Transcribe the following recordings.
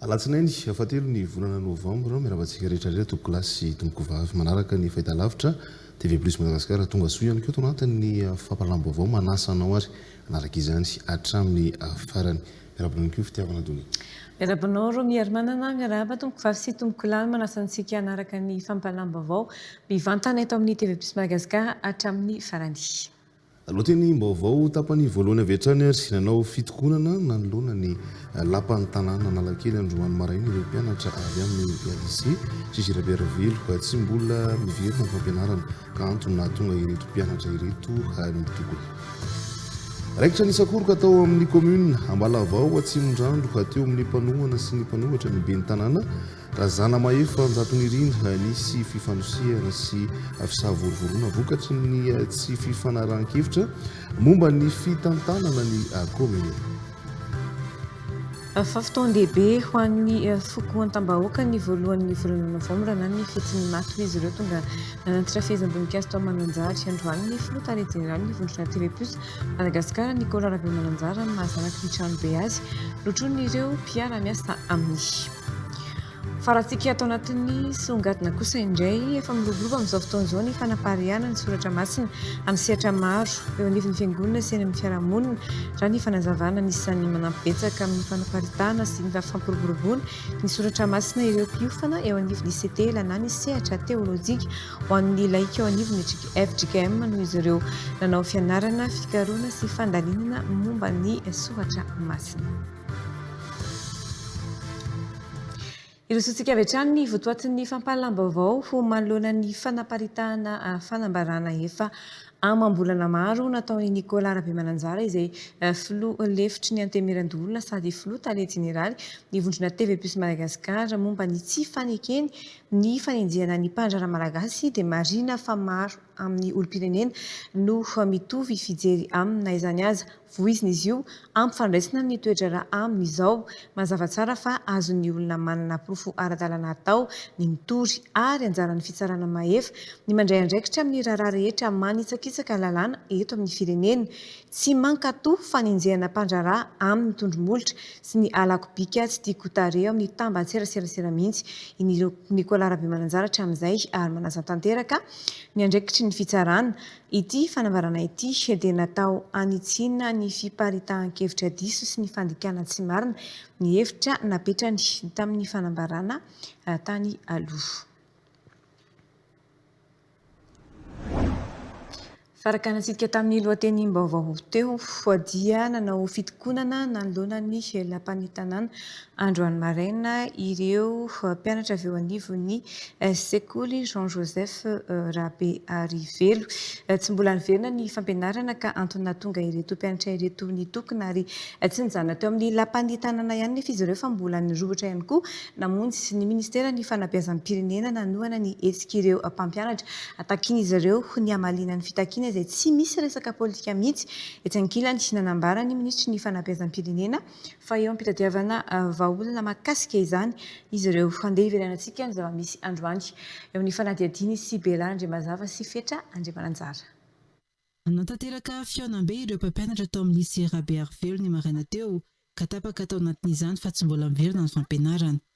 Alatsinainy fahatelo ny volana novambra. Miarahaba antsika rehetra rehetra tompokolahy sy tompokovavy manaraka ny fahitalavitra TV Plus Madagascar. Tonga soa ihany koa eto anatin'ny fampahalalam-baovao. Manasa anao ary hanaraka izany hatramin'ny farany. Miarahaba anao ihany koa Fitiavana Donia. Miarahaba anao Romy Herimanana. Miarahaba tompokovavy sy tompokolahy. Manasa antsika hanaraka ny fampahalalam-baovao mivantana eto amin'ny TV Plus Madagascar hatramin'ny farany. Lohatenim-baovao tapany voalohany avy hatrany ary nanao fitokonana nanoloana ny Lapan'ny tanàna Analakely androany maraina ireo mpianatra avy amin'ny Lycée Juge Rabe Ravelo. Tsy mbola miverina ny fampianarana ka antony nahatonga ireto mpianatra ireto nitokona. Raikitra nisakoroka tao amin'ny Commune Ambalavao Atsimondrano teo amin'ny mpanohana sy ny mpanohatra ny Ben'ny tanàna. Zanamahefa Anjatonirina, Nisy fifanosehana sy fisavorovoroana vokatry ny tsy fifanarahan-kevitra momba ny fitantanana ny kaominina. Fa fotoan-dehibe ho an'ny foko Antambahoaka ny voalohan'ny volana novambra na ny fetin'Imaty, hoy izy ireo. Tonga nanatitra fehezam-boninkazo tao Mananjary androany ny filoha tale jeneralin'ny vondrona Telepus Madagasikara, Nicolas Rabemananjara, amin'ny maha zanaky ny tranobe azy notronin'ireo mpiara-miasa aminy. Farantsika ato anatin'ny songadina kosa indray, efa miloboloba amin'izao fotoana izao ny fanapariahana ny soratra masina amin'ny sehatra maro eo anivon'ny fiangonana sy eny amin'ny fiarahamonina, raha ny fanazavana. Anisan'ny manampy betsaka amin'ny fanaparitahana sy ny fampiroboroboana ny soratra masina ireo mpiofana eo anivon'ny CTELA na ny sehatra teolojika ho an'ny laika eo anivon'ny fjkm noho izy ireo nanao fianarana, fikarohana sy fandalinana momba ny soratra masina. Hirosoantsika avy hatrany ny votoatin'ny fampahalalam-baovao ho manoloana ny fanaparitahana fanambarana efa amam-bolana maro nataon'i Nicolas Rabemananjara izay filoha lefitry ny Antenimierandoholona sady filoha tale jeneraly ny vondrona TV Plus Madagascar momba ny tsy fanekeny ny fanenjehana ny mpandraharaha malagasy dia marina fa maro amin'ny olom-pirenena no mitovy fijery aminy na izany aza. Voizina izy io, ampifandraisina amin'ny toe-draharaha aminy izao. Mazava tsara fa azon'ny olona manana porofo ara-dalàna atao ny mitory, ary anjaran'ny fitsarana mahefa ny mandray andraikitra amin'ny raharaha rehetra manitsakitsaka lalàna eto amin'ny firenena. Tsy mankatò fanenjehana mpandraharaha amin'ny tondro-molotra sy ny halako bika tsy tiako ho tarehy ao amin'ny tambantseraseransera mihitsy i Nicolas Rabemananjara hatramin'izay, ary manazan-tanteraka ny andraikitry ny fitsarana Ity fanambarana ity dia natao hanitsiana ny fiparitahan-kevitra diso sy ny fandikana tsy marina ny hevitra napetrany tamin'ny fanambarana tany aloha. Farakanantsika tamin'ny lohatenim-baovao teo dia nanao fitokonana nanoloana ny lapan'ny tanàna Androany maraina, ireo mpianatra avy eo anivon'ny sekoly Jean Joseph Rabearivelo. Tsy mbola niverina ny fampianarana ka antony nahatonga ireto mpianatra ireto nitokona ary tsy nijanona teo amin'ny lapan'ny tanàna ihany nefa izy ireo fa mbola nirohotra ihany koa namonjy ny Ministeran'ny Fanabeazam-pirenena nanohana ny hetsik'ireo mpampianatra takin'izy ireo ho ny hamaliana ny fitakiana izay tsy misy resaka politika mihitsy etsy ankilany. Nanambara ny Minisitry ny Fanabeazam-pirenena fa eo am-pitadiavana vahaolana mahakasika izany izy ireo. Handeha hiverenantsika ny zava-misy androany, eo amin'ny fanadihadian'i Sibera Andriamazava sy Fetra Andriamananjara. Nanatanteraka fihaonambe ireo mpampianatra tao amin'ny Lycée Rabearivelo ny maraina teo, ka tapaka tao anatin'izany fa tsy mbola miverina ny fampianarana.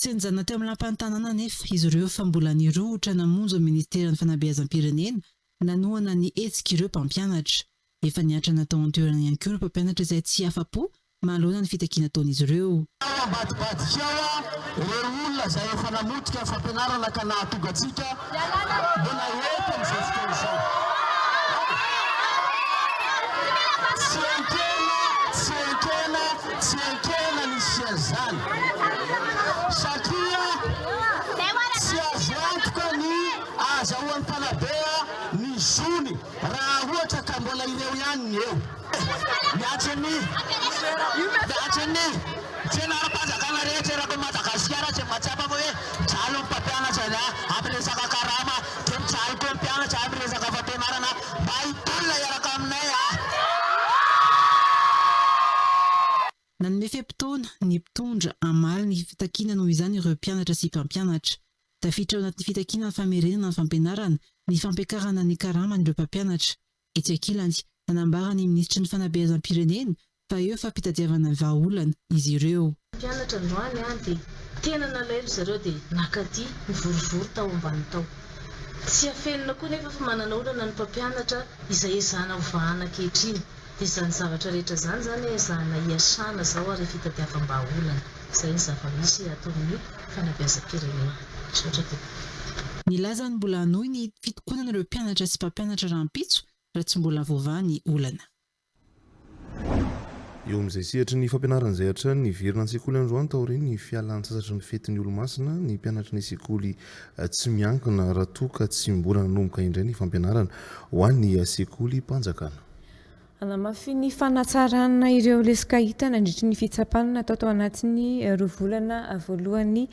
Tsenjana teo amin'ny lapan'ny tanàna anefa izy ireo fa mbola nirohotra namonjy ny minisiteran'ny fanabeazam-pirenena nanohana ny hetsik'ireo mpampianatra. Efa niantrana tao an-toerana ihany koa ireo mpampianatra izay tsy afa-po manoloana ny fitakiana ataon'izy ireo. Tena ambadibadikao ireo olona izay efa namotika ny fampianarana ka nahatonga antsika Mbola eto ny zezika izao. Tsy enkena, tsy enkena, tsy enkena ny siège-zany satria tsy azo antoka ny ahazahoan'ny mpanabe ny zony raha ohatra ka mbola ireo ihany ny eo. Miantso ny Miantso ny tsena ara-panjakana rehetra eraky an'i Madagasikara izay mahatsapa fa hoe mijaly ny mpampianatra ny amin'ny resaka karama dia mijaly koa ny mpianatra amin'ny resaka fampianarana mba hitolona hiaraka aminay a! Nanome fe-potoana ny mpitondra hamaly ny fitakiana noho izany ireo mpianatra sy mpampianatra. Tafiditra ao anatin'ny fitakiana ny famerenana ny fampianarana, ny fampiakarana ny karaman'ireo mpampianatra, Etsy ankilany, nanambara ny minisitry ny fanabeazam-pirenena fa eo fampitadiavana vahaolana izy ireo. Mpianatra androany aho dia tena nalaelo ry zareo dia nakaty nivorivory tao ambany tao. Tsy afenina koa nefa fa manana olana ny mpampianatra izay ezahana ho vahana ankehitriny. Dia izany zavatra rehetra izany izany ezahana iasana izao ary fitadiavam-bahaolana. Izay ny zava-misy ataon'ny fanabeazam-pirenena. Misaotra tompoko. Nilaza ny mbola hanohy ny fitokonana ireo mpianatra sy mpampianatra rahampitso raha tsy mbola voavaha ny olana. Eo amin'izay sehatry ny fampianarana izay hatrany niverina an-tsekoly androany taorian'ny fialan-tsasatry ny fetin'ny Olomasina ny mpianatry ny sekoly tsy miankina raha toa ka tsy mbola nanomboka indray ny fampianarana ho an'ny sekolim-panjakana. Hanamafin'ny fanatsarana ireo lesoka hita nandritry ny fitsapana natao tao anatin'ny roa volana voalohan'ny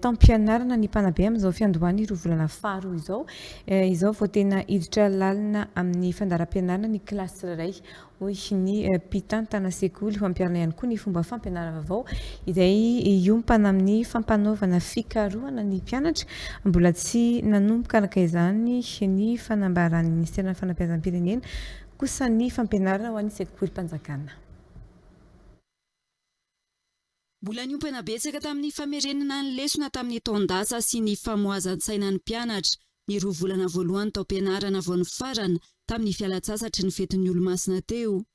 taom-pianarana ny mpanabe amin'izao fiandohan'ny roa volana faharoa izao. Izao vao tena hiditra lalina amin'ny fandaharam-pianarana ny kilasy tsirairay, hoy ny mpitantana sekoly. Ho ampiharina ihany koa ny fomba fampianaram-baovao izay hiompana amin'ny fampanaovana fikarohana ny mpianatra. Mbola tsy nanomboka araka izany ny fanambaran'ny minisiteran'ny fanabeazam-pirenena kosa ny fampianarana ho an'ny sekolim-panjakana. Mbola niompana betsaka tamin'ny famerenana ny lesona tamin'ny taon-dasa sy ny famoazan-tsaina ny mpianatra ny roa volana voalohany taom-pianarana vao nifarana tamin'ny fialan-tsasatry ny fetin'ny Olomasina teo.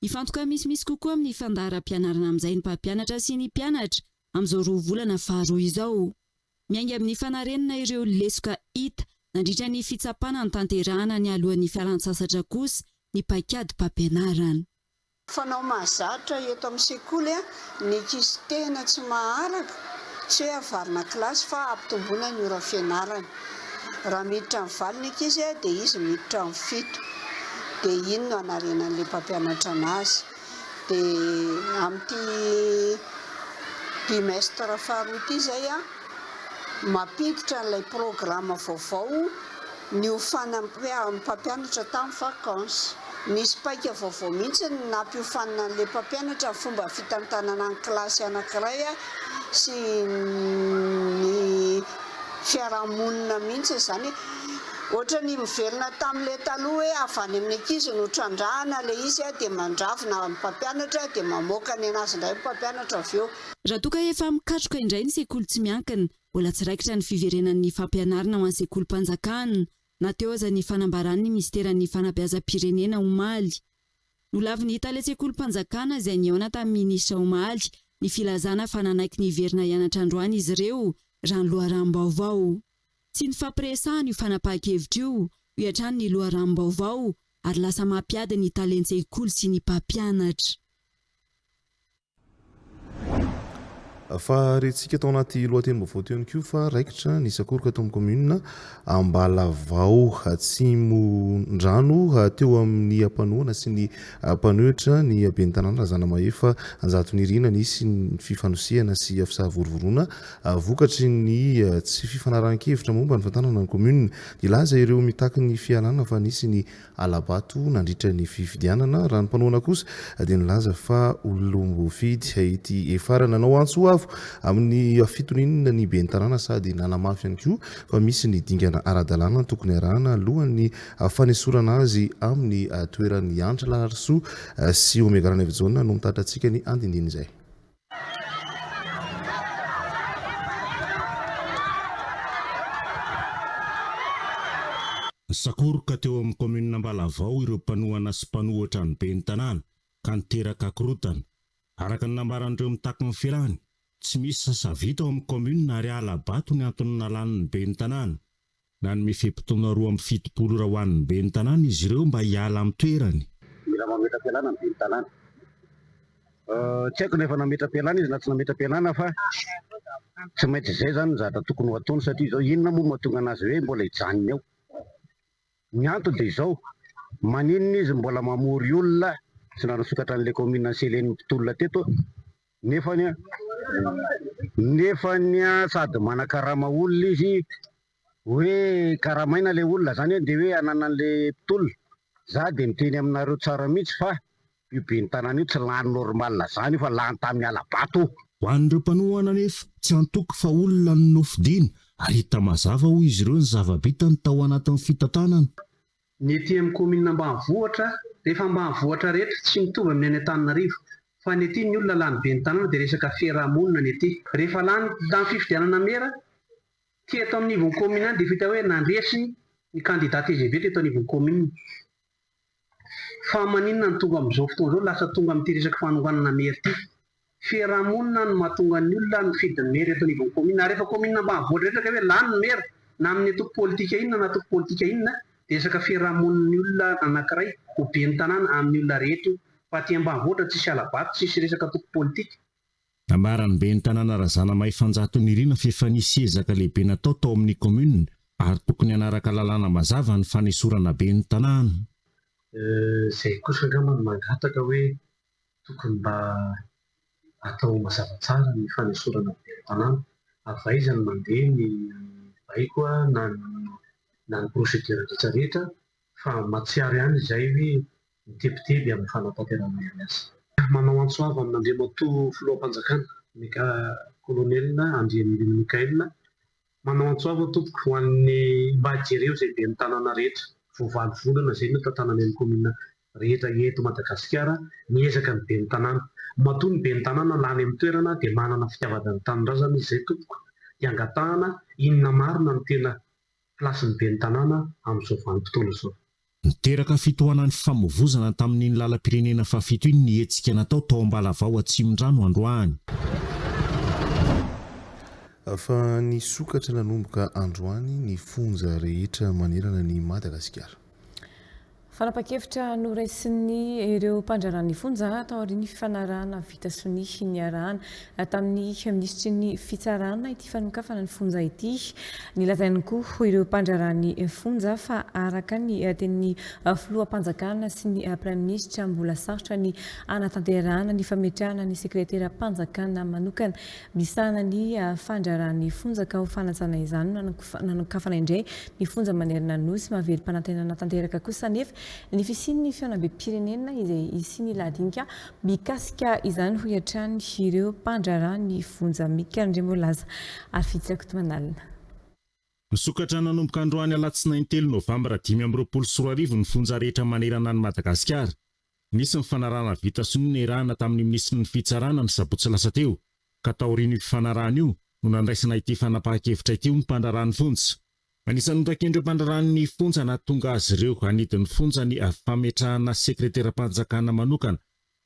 Hifantoka misimisy kokoa amin'ny fandaharam-pianarana amin'izay ny mpampianatra sy ny mpianatra Amin'izao roa volana faharoa izao, miainga amin'ny fanarenana ireo lesoka hita nandritra ny fitsapana notanterahana nialohan'ny fialantsasatra kosa ny paikadim-pampianarana. Fanao mahazatra eto amin'ny sekoly ny ankizy tena tsy maharaka, tsy hoe avarina kilasy fa hampitomboina ny ora fianarany. Raha miditra amin'ny valo ny ankizy dia izy miditra amin'ny fito. Dia iny no hanarenan'ilay mpampianatra anazy. dia amin'ity bimestre faharoa ity izay mampiditra an'ilay programme vaovao ny ho fanampian'ny mpampianatra tamin'ny vacance. Nisy paika vaovao mihitsy ny nampiofanina an'ilay mpampianatra ny fomba fitantanana ny kilasy anankiray sy ny fiarahamonina mihitsy izany. Otrany miverina tam le taloha hoe avy any amin'ny ankizy no trandrahana le izy a de mandravona ny mpampianatra de mamoaka ny anazy indray ny mpampianatra avy eo. Raha toa ka efa mikatroka indray ny sekoly tsy miankina, mbola tsy raikitra ny fiverenan'ny fampianarina ho an'ny sekolim-panjakana, na teo aza ny fanambaran'ny minisiteran'ny fanabeazam-pirenena omaly. Nolavin'ny tale sekolim-panjakana izay nihaona tamin'ny minisitra omaly ny filazana fa nanaiky ny hiverina hianatra androany izy ireo, raha ny loharanom-baovao. Tsy nifampiresahana io fanapahan-kevitra io, hoy hatrany ny loharanom-baovao, ary lasa mampiady ny talen-tsekoly sy ny mpampianatra. Fa rentsika tao anaty lohatenim-baovao teo ihany koa fa raikitra ny sakoroka tao amin'ny kaominina Ambalavao Atsimondrano teo amin'ny ampanoana sy ny mpanohitra ny ben'ny tanàna Razanamahefa Anjatonirina. Nisy ny fifanosehana sy fisavorovoroana Vokatry ny tsy fifanarahan-kevitra momba ny fantanana ny kaominina. Nilaza ireo mitaky ny fialana fa nisy ny hala-bato nandritra ny fifidianana. Raha ny mpanohana kosa dia nilaza fa olom-boafidy ity Efara nanao antso avo amin'ny fitoniana ny ben'ny tanàna sady nanamafy ihany koa fa misy ny dingana ara-dalàna tokony arahana alohan'ny fanesorana azy amin'ny toerany. Andry Raharisoa sy Omega Ranaivojaona no mitatra antsika ny andinindiny izay. Nisakoroka teo amin'ny kaominina Ambalavao ireo mpanohana sy mpanohitra ny ben'ny tanàna ka niteraka korontana. Araka ny nambaran'ireo mitaky ny filàny, tsy misy sasa vita ao amin'ny kaominina ary hala-bato ny antony nalan'ny ben'ny tanàna. Nanome fe-potoana roa amby fitopolo ora ho an'ny ben'ny tanàna izy ireo mba hiala amin'ny toerany. Mila mametra-pialana ny ben'ny tanàna. Tsy haiko na efa nametra-pialana izy na tsy nametra-pialana fa tsy maintsy izay izany no zavatra tokony ho ataony satria izao inona moa no mahatonga an'azy hoe mbola hijanona eo. Ny antony dia izao, maninona izy mbola mamory olona tsy nanosokatra an'ilay kaominina ny selen'ny mpitolona teto Nefany an! Nefany an! Sady manakarama olona izy, hoe karamaina ilay olona, izany an dia hoe ananan'ilay mpitolona. Izaho dia miteny aminareo tsara mihitsy fa io ben'ny tanàna io tsy lany normal izany io fa lany tamin'ny hala-bato. Ho an'ireo mpanohana anefa, tsy antoky fa olona no nofidina ary hita mazava hoy izy ireo ny zava-bitany tao anatin'ny fitantanana. Ny ety amin'ny kaominina ambanivohitra, rehefa ambanivohitra rehetra, tsy mitovy amin'ny any Antananarivo, fa ny ety ny olona lany be ny tanàna dia resaka fiarahamonina ny ety. Rehefa lany tamin'ny fifidianana mera, ity eto amin'ny ivon'ny kaominina ihany dia efa hita hoe nandresy ny kandida tgv teto anivon'ny kaominina. Fa maninona no tonga amin'izao fotoana izao lasa tonga amin'ity resaka fanonganana mera ity? Fiarahamonina no mahatonga ny olona nifidy ny maire eto anivon'ny commune. Ary efa commune ambanivohitra rehetra kay hoe lany ny maire na amin'ny antoko politika inona na antoko politika inona dia resaka fiarahamonin'ny olona anankiray ho ben'ny tanàna amin'ny olona rehetra io fa aty ambanivohitra tsisy halabato tsisy resaka antoko politika. Nambaran'ny ben'ny tanàna Razanamaifanjato Nirina fa efa nisy ezaka lehibe natao tao amin'ny commune ary tokony hanaraka lalàna mazava ny fanesorana ben'ny tanàna. Izay kosa angamba no mangataka hoe Tokony mba atao mazava tsara ny fanesorana ny velon-tanàna. Avaiza no mandeha ny baiko na na ny procédure rehetra rehetra fa mahatsiaro ihany izay hoe mitebiteby amin'ny fanatanterahana ny asa. Manao antso avo amin'Andriamatoa Filoham-panjakana, Mega Colonel Andrianirina Michael, Manao antso avo tompoko ho an'ny mba jereo izay ben'ny tanàna rehetra vao valo volana izay no tantanany any kaominina rehetra eto Madagasikara ny ezaka ny ben'ny tanàna matoa ny ben'ny tanàna lany amin'ny toerana dia manana fitiavana ny tanindrazana izy izay tompoko dia angatahana inona marina no tena place ny ben'ny tanàna amin'izao vanim-potoana izao. Niteraka fitohanan'ny fifamoivozana tamin'iny lalam-pirenena fahafito iny ny hetsika natao tao Ambalavao Atsimondrano androany. Fa nisokatra nanomboka androany ny fonja rehetra manerana an'i Madagasikara. Fanapan-kevitra noraisiny ireo mpandraharaha ny fonja taorian'ny fifanarahana vita sonia niarahana tamin'ny minisitry ny Fitsarana ity fanokafana ny fonja ity. Nilazainy koa ho ireo mpandraharaha ny fonja fa araka ny tenin'ny filoham-panjakana sy ny praiminisitra mbola sarotra ny hanatanterahana ny fametrahana ny sekreteram-panjakana manokana misahana ny fandraharaha ny fonja ka ho fanajana izany no nanokafana indray ny fonja manerana ny Nosy. Mahavelom-panantenana tanteraka kosa anefa ny fisian'ny fihaonambem-pirenena izay hisian'ila adinika Mikasika izany hoy hatrany ireo mpandraharaha ny fonja Mika Andriamboalaza ary Fijo Rakotomanalina. Misokatra nanomboka androany alatsinainy telo novambra dimy amby roapolo sy roa arivo ny fonja rehetra manerana an'i Madagasikara. Nisy ny fanarahana vita sonia niarahana tamin'ny minisitry ny fitsarana ny sabotsy lasa teo, ka taorian'io fifanarahana io no nandraisana ity fanapahan-kevitra ity ho mpandraharaha ny fonja. Anisan'ny notakian'ireo mpandraharaha ny fonja nahatonga azy ireo hanidy ny fonja ny fametrahana sekreteram-panjakana manokana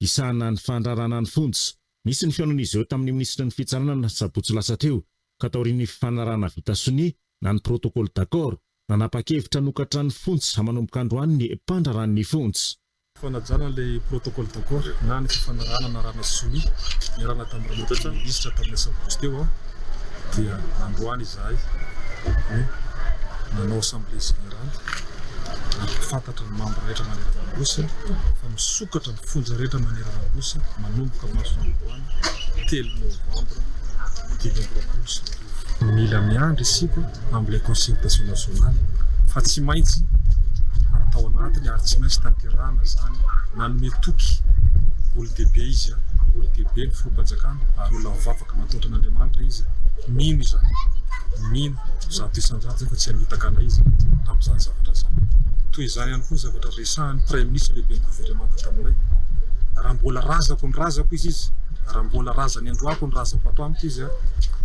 hisahana ny fandraharahana ny fonja. Nisy ny fihaonan'izy ireo tamin'ny minisitry ny Fitsarana ny sabotsy lasa teo ka taorian'ny fifanarahana vita sonia na ny protocole d'accord, nanapa-kevitra hanokatra ny fonja manomboka androany ny mpandraharaha ny fonja. Fanajana ilay protocole d'accord na ny fifanarahana narahana sonia niarahana tamin'ny ramatoa minisitra tamin'ny asabotsy teo aho dia androany izahay no nanao assemblée générale nampahafantatra ny membre rehetra maneran'Anosy fa misokatra ny fonja rehetra maneran'Anosy manomboka masoandroany telo novembre dimy amby roapolo sy roa arivo. Mila miandry isika amin'ilay concertation nationale fa tsy maintsy atao anatiny ary tsy maintsy tanterahana izany. Nanome toky olon-dehibe izy, olon-dehibe ny filoham-panjakana ary olona mivavaka mataotra an'Andriamanitra izy. Mino izany, mino zato isan-jato izany fa tsy hamitaka anay izy amin'izany zavatra izany. Toy izany ihany koa ny zavatra resahan'ny praiminisitra lehiben'ny governemanta taminay. Raha mbola razako ny razako izy izy, raha mbola razany androako ny razako ato amiko izy, dia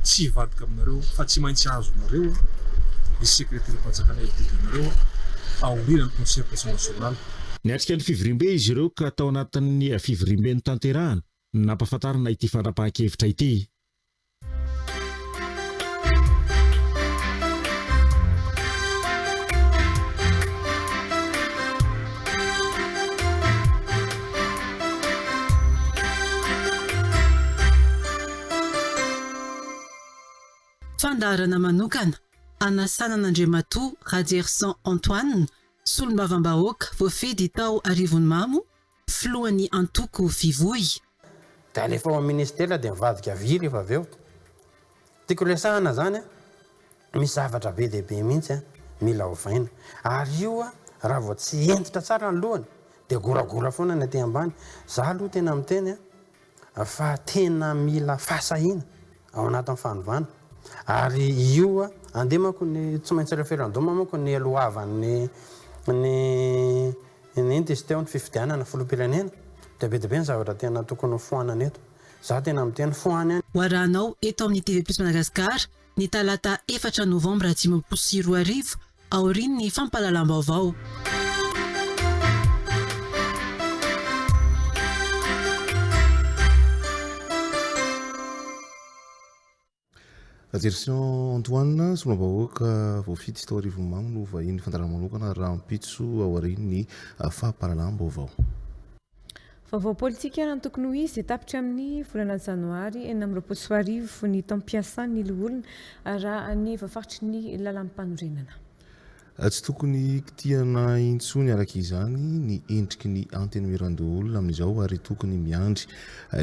tsy hivadika aminareo fa tsy maintsy azonareo ny sekreteram-panjakana LDD nareo aoriana ny concertation nationale. Niatrika ny fivoriambe izy ireo ka tao anatin'ny fivoriambe notanterahana no nampahafantarana ity fandrapahan-kevitra ity. Fandaharana manokana hanasana an'Andriamatoa Rajerison Antoine, solombavambahoaka voafidy tao Arivonimamo, filohan'ny antoko Fivoy. Dia alefa ao amin'ny minisitera dia mivadika vy rehefa avy eo. Tiako resahana izany an, misy zavatra be dia be mihitsy an, mila ovaina. Ary io an, raha vao tsy hentitra tsara ny lohany dia goragora foana ny aty ambany. Izaho aloha tena miteny an. fa tena mila fahasahiana ao anatin'ny fanovana ary io andeha manko ny tsy maintsy referendum manko ny lohavan'ny ny ny inona izy teo ny fifidianana filoham-pirenena dia be dia be ny zavatra tena tokony ho foanana eto za tena miteny fohany any. Ho arahanao eto amin'ny TV Plus Madagascar ny talata efatra novambra dimampolo sy roa arivo, aorian'ny fampahalalam-baovao. Ajerison Antoine, solombavahoaka voafidy tao Arivonimamo no vahinin'ny fandaharanmanokana rahampitso aorian'ny ah, fampahalalam-baovao. Vaovao politika raha ny tokony ho izy dia tapitra amin'ny volana janoary enina amby roapolo sy roa arivo ny taom-piasan'ny loholona raha ny voafaritry ny lalàm-panorenana. Tsy tokony hikitihana intsony araka izany ny endriky ny Antenimierandoholona amin'izao ary tokony miandry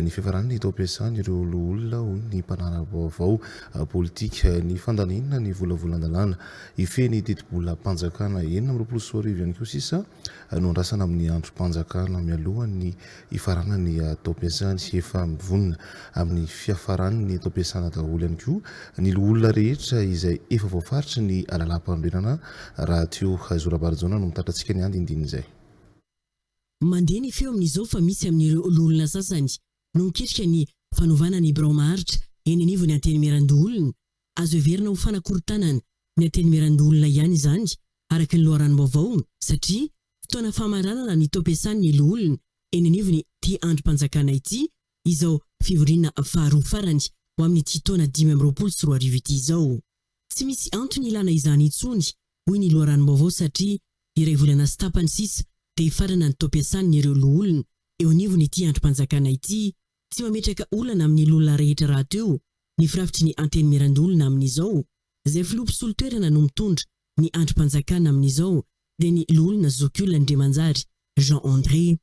ny fiafaran'ny taom-piasan' ireo loholona hoy ny mpanara-baovao politika. Ny fandalinana ny volavolan-dalàna hifehy ny tetibolam-panjakana enina amby roapolo sy roa arivo ihany koa sisa nondrasana amin'ny andrim-panjakana mialohan'ny hifaranan'ny taom-piasany. Efa mivonona amin'ny fiafaran'ny taom-piasana daholo ihany koa ny loholona rehetra izay efa voafaritry ny lalàmpanorenana. Rahateo Zo Rabarijaona no mitatra antsika ny andinindin'izay. Mandeha ny feo amin'izao fa misy amin'ireo loholona sasany no miketrika ny fanovana ny birao maharitra eny anivon'ny Antenimierandoholona Azo heverina ho fanakorontanana ny Antenimierandoholona ihany izany, araka ny loharanom-baovao, satria fotoana famaranana ny taom-piasan'ny Loholona eny anivon'ity andrim-panjakana ity izao fivoriana faharoa farany ho amin'ity taona dimy amby roapolo sy roa arivo ity izao. Tsy misy antony ilana izany intsony, hoy ny loharanom-baovao satria iray volana sy tapany sisa dia hifarana ny taom-piasan'ireo Loholona eo anivon'ity andrim-panjakana ity, Tsy mametraka olana amin'ny loholona rehetra rahateo ny firafitry ny Antenimierandoholona amin'izao. Izay filoha mpisolo toerana no mitondra ny andrim-panjakana amin'izao dia ny Loholona Zokiolona Andriamanjary Jean André.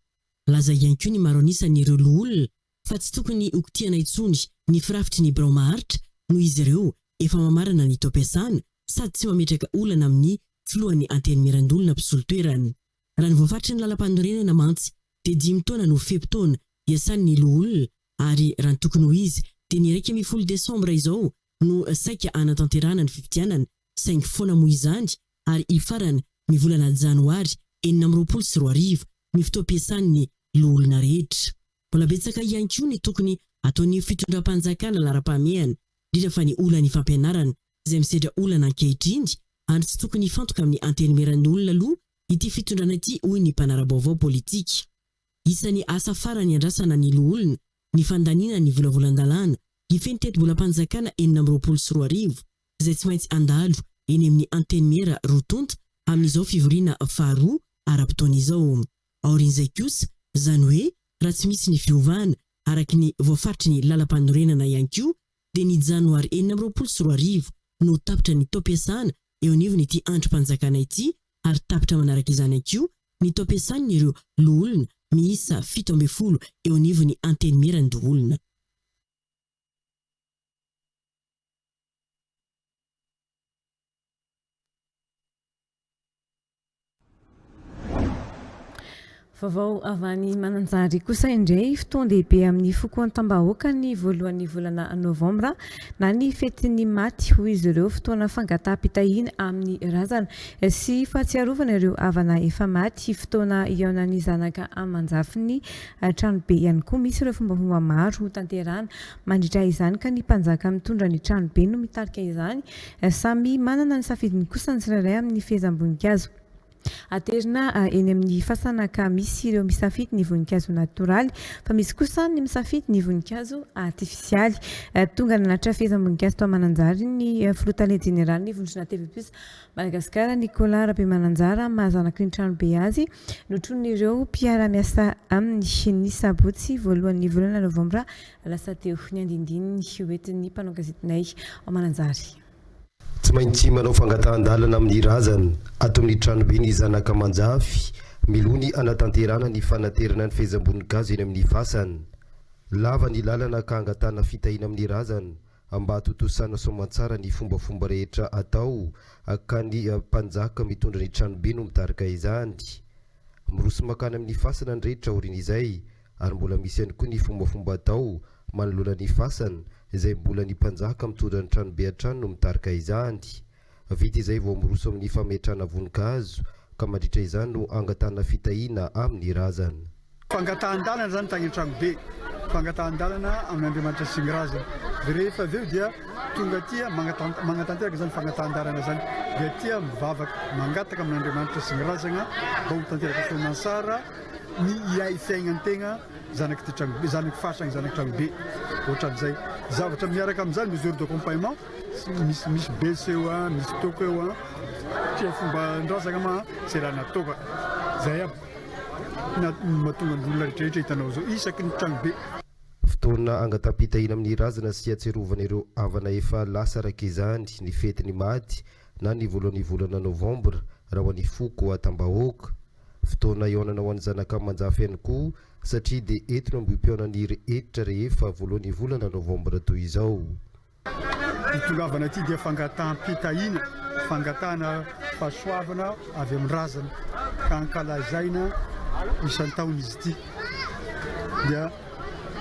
Laza ihany koa ny maro anisan'ireo loholona fa tsy tokony hokitihana intsony ny firafitry ny birao maharitra noho izy ireo efa mamarana ny taom-piasana sady tsy mametraka olana amin'ny filohan'ny Antenimierandoholona mpisolo toerana. Raha ny voafaritry ny lalampanorenana mantsy dia dimy taona no fe-potoana iasan'ny loholona ary raha ny tokony ho izy dia ny iraika ambin'ny folo desambra izao no saika hanatanterahana ny fifidianana saingy foana moa izany ary hifarana ny volana janoary enina amby roapolo sy roa arivo ny fotoam-piasan'ny loholona rehetra. Mbola betsaka ihany koa ny tokony hataon'ny fitondram-panjakana laharam-pahamehana indrindra fa ny olan'ny fampianarana izay misedra olana ankehitriny, ary tsy tokony hifantoka amin'ny antenimieran'ny olona aloha ity fitondrana ity, hoy ny mpanara-baovao politika. Isan'ny asa farany iandrasana ny loholona ny fandaniana ny volavolan-dalàna hifehy ny tetibolam-panjakana enina amby roapolo sy roa arivo, izay tsy maintsy handalo eny amin'ny antenimiera roa tonta amin'izao fivoriana faharoa ara-potoana izao. Aorian'izay kosa, izany hoe raha tsy misy ny fiovana, araka ny voafaritry ny lalampanorenana ihany koa dia ny janoary enina amby roapolo sy roa arivo no ho tapitra ny taom-piasana eo anivon'ity andrim-panjakana ity ary tapitra manaraka izany ihany koa ny taom-piasan'ireo loholona miisa fito ambin'ny folo eo anivon'ny Antenimieran-doholona. Vaovao avy any Mananjary kosa indray, fotoan-dehibe amin'ny foko an-tambahoaka ny voalohan'ny volana novambra na ny fetin'ny maty hoy izy ireo, fotoana fangataham-pitahiana amin'ny razana sy fahatsiarovana ireo havana efa maty, fotoana hihaonan'ny zanaka aman-jafiny, tranobe ihany koa misy ireo fombafomba maro hotanterahana. Mandritra izany ka ny mpanjaka mitondra ny tranobe no mitarika izany. Samy manana ny safidiny kosa ny tsirairay amin'ny fehezam-boninkazo aterina eny amin'ny fasana ka misy ireo misafidy ny voninkazo natoraly fa misy kosa ny misafidy ny voninkazo artifisialy. Tonga nanatitra fehezam-boninkazo tao Mananjary ny filoha tale jeneralin'ny vondrona TV Plus Madagasikara, Nicolas Rabemananjara maha zanaky ny tranobe azy notronin'ireo mpiara-miasa aminy ny sabotsy voalohan'ny volana novambra Lasa teo ny andinindininy hoentin'ny mpanao gazetinay ao Mananjary. Tsy maintsy manao fangatahan-dalana amin'ny razana ato amin'ny tranobe ny zanaka aman-jafy miloha ny hanatanterahana ny fanaterana ny fehezam-boninkazo eny amin'ny fasana. Lava ny lalana ka hangatahana fitahiana amin'ny razana Mba hatontosana soamantsara ny fombafomba rehetra atao ka ny mpanjaka mitondra ny tranobe no mitarika izany. Miroso mankany amin'ny fasana ny rehetra aorian'izay ary mbola misy ihany koa ny fombafomba atao manoloana ny fasana izay mbola ny mpanjaka mitondra ny tranobe hatrany no mitarika izany. Vita izay vao miroso amin'ny fametrahana voninkazo ka mandritra izany no angatahana fitahiana amin'ny razana. Fangatahan-dalana izany tany an-tranobe, fangatahan-dalana amin'Andriamanitra sy ny razana. Dia rehefa avy eo dia tonga aty mangataha manatanteraka izany fangatahan-dalana izany. Dia aty mivavaka, mangataka amin'Andriamanitra sy ny razana mba ho tanteraka soamantsara ny hiay fiainan-tegna zanak'ity tranobe, zanak'ny faritra, ny zanak'i tranobe. Ohatran'izay. Zavatra miaraka amin'izany, mesure d'accompagnement, Misy misy bes eo a, misy toko eo a, tia fomban-drazana ma zay raha natao ka, zay aby na mahatonga ny olona rehetra rehetra hitanao zao isaky ny trano be. Fotoana angataham-pitahina amin'ny razana sy atsiarovana ireo havana efa lasa araka izany ny fetin'ny maty na ny voalohan'ny volana novambra raha ho an'ny foko Atambahoaka. Fotoana hihaonana ho an'ny zanaka aman-jafy ihany koa satria dia eto no ambohipihaonan'ny rehetra rehefa voalohan'ny volana novambra toy izao. Itongavana ity dia fangataham-pitahiana, fangatahana fahasoavana avy amin'ny razana ka ankalazaina isan-taona izy ity. Dia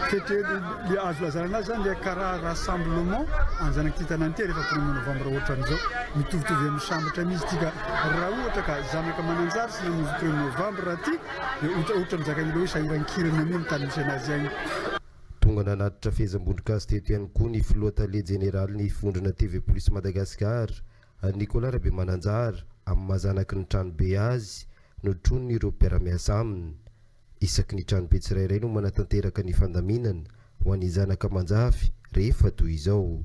fety dia azo lazana anazy zany le kara rassemblement anjanak'ity tanàna ity rehefa premier novembre ohatran'izao mitovitovy amin'ny sambatra mihitsy ity ka raha ohatra ka zanaka mananjary sy namonjy premier novembre ity dia ohatra mizaka an'ilay hoe sahirankirana mihitsy ny tany misy anazy agny Tonga nanatitra fehezam-bondron-kazo teto ihany koa ny filoha tale jeneralin'ny vondrona TV Polisy Madagascar, Nicolas Rabemananjara, amin'ny maha zanaky ny tranobe azy, notroniny ireo mpiara-miasa aminy. Isaky ny tranobe tsirairay no manatanteraka ny fandaminana ho an'ny zanaka aman-jafy rehefa toy izao.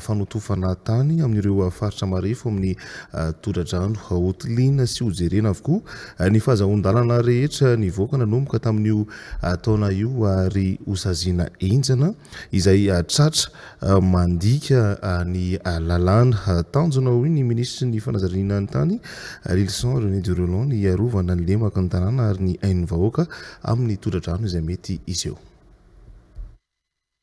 fanotofana tany amin'ireo faritra marefo amin'ny tondra-drano hotiliana sy hojerena avokoa ny fahazahoan-dalana rehetra nivoaka nanomboka tamin'io taona io ary hosaziana henjana izay tratra mandika ny lalàna. Tanjona, hoy ny minisitry ny fanazariana ny tany, Lylison René Durelon, ny hiarovana ny lemaka ny tanàna ary ny ain'ny vahoaka amin'ny tondra-drano izay mety hiseho.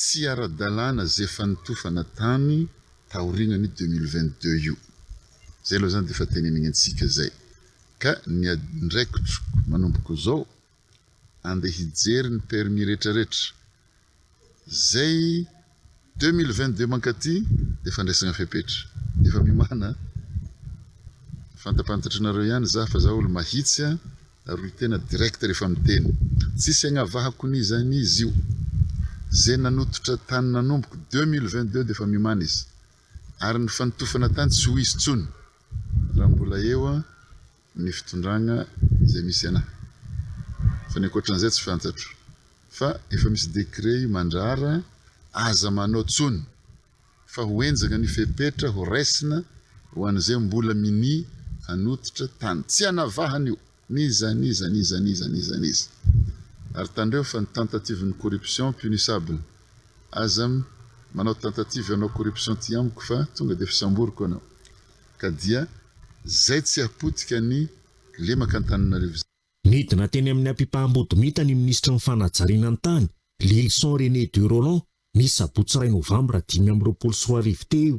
Tsy ara-dalàna izay fanotofana tany taorianan'io deux mille vingt-deux io. Izay aloha izany dia efa teneniny antsika izay. Ka ny adraikitro manomboka izao, andeha hijery ny permis rehetrarehetra. Izay deux mille vingt-deux mankaty dia fandraisana fepetra. Efa miomàna a! Fantapantatrnareo ihany izaho fa izaho olo-mahitsy a! Ary tena direct rehefa miteny. Tsisy agnavahako ny iza ny izy io. Ze nanototra tany nanomboky deux mille vingt deux defa miomana izy. Ary ny fanotofana tany tsy ho izy tsony raha mbola eo ny fitondragna ze misy ana. Fa ny ankoatran'izay tsy fantatro. Fa efa misy decret io mandrara aza manao tsony. fa ho henjana ny fepetra ho raisina ho an'izay mbola minia hanototra tany. Tsy anavahana io. N'iza n'iza n'iza n'iza n'iza n'iza. Ary tandreo fa ny tentative ny corruption punissable. Aza manao tentative hanao corruption aty amiko fa tonga dia fisamboriko anao. Ka dia zay tsy hapotika ny lemaka Antananarivo zay. Nidina teny amin'ny ampipaham-bodomita ny minisitry ny Fanajariana ny tany, Lylison René De Rolland, ny sabotsy iray novambra dimy amby roapolo sy roa arivo teo.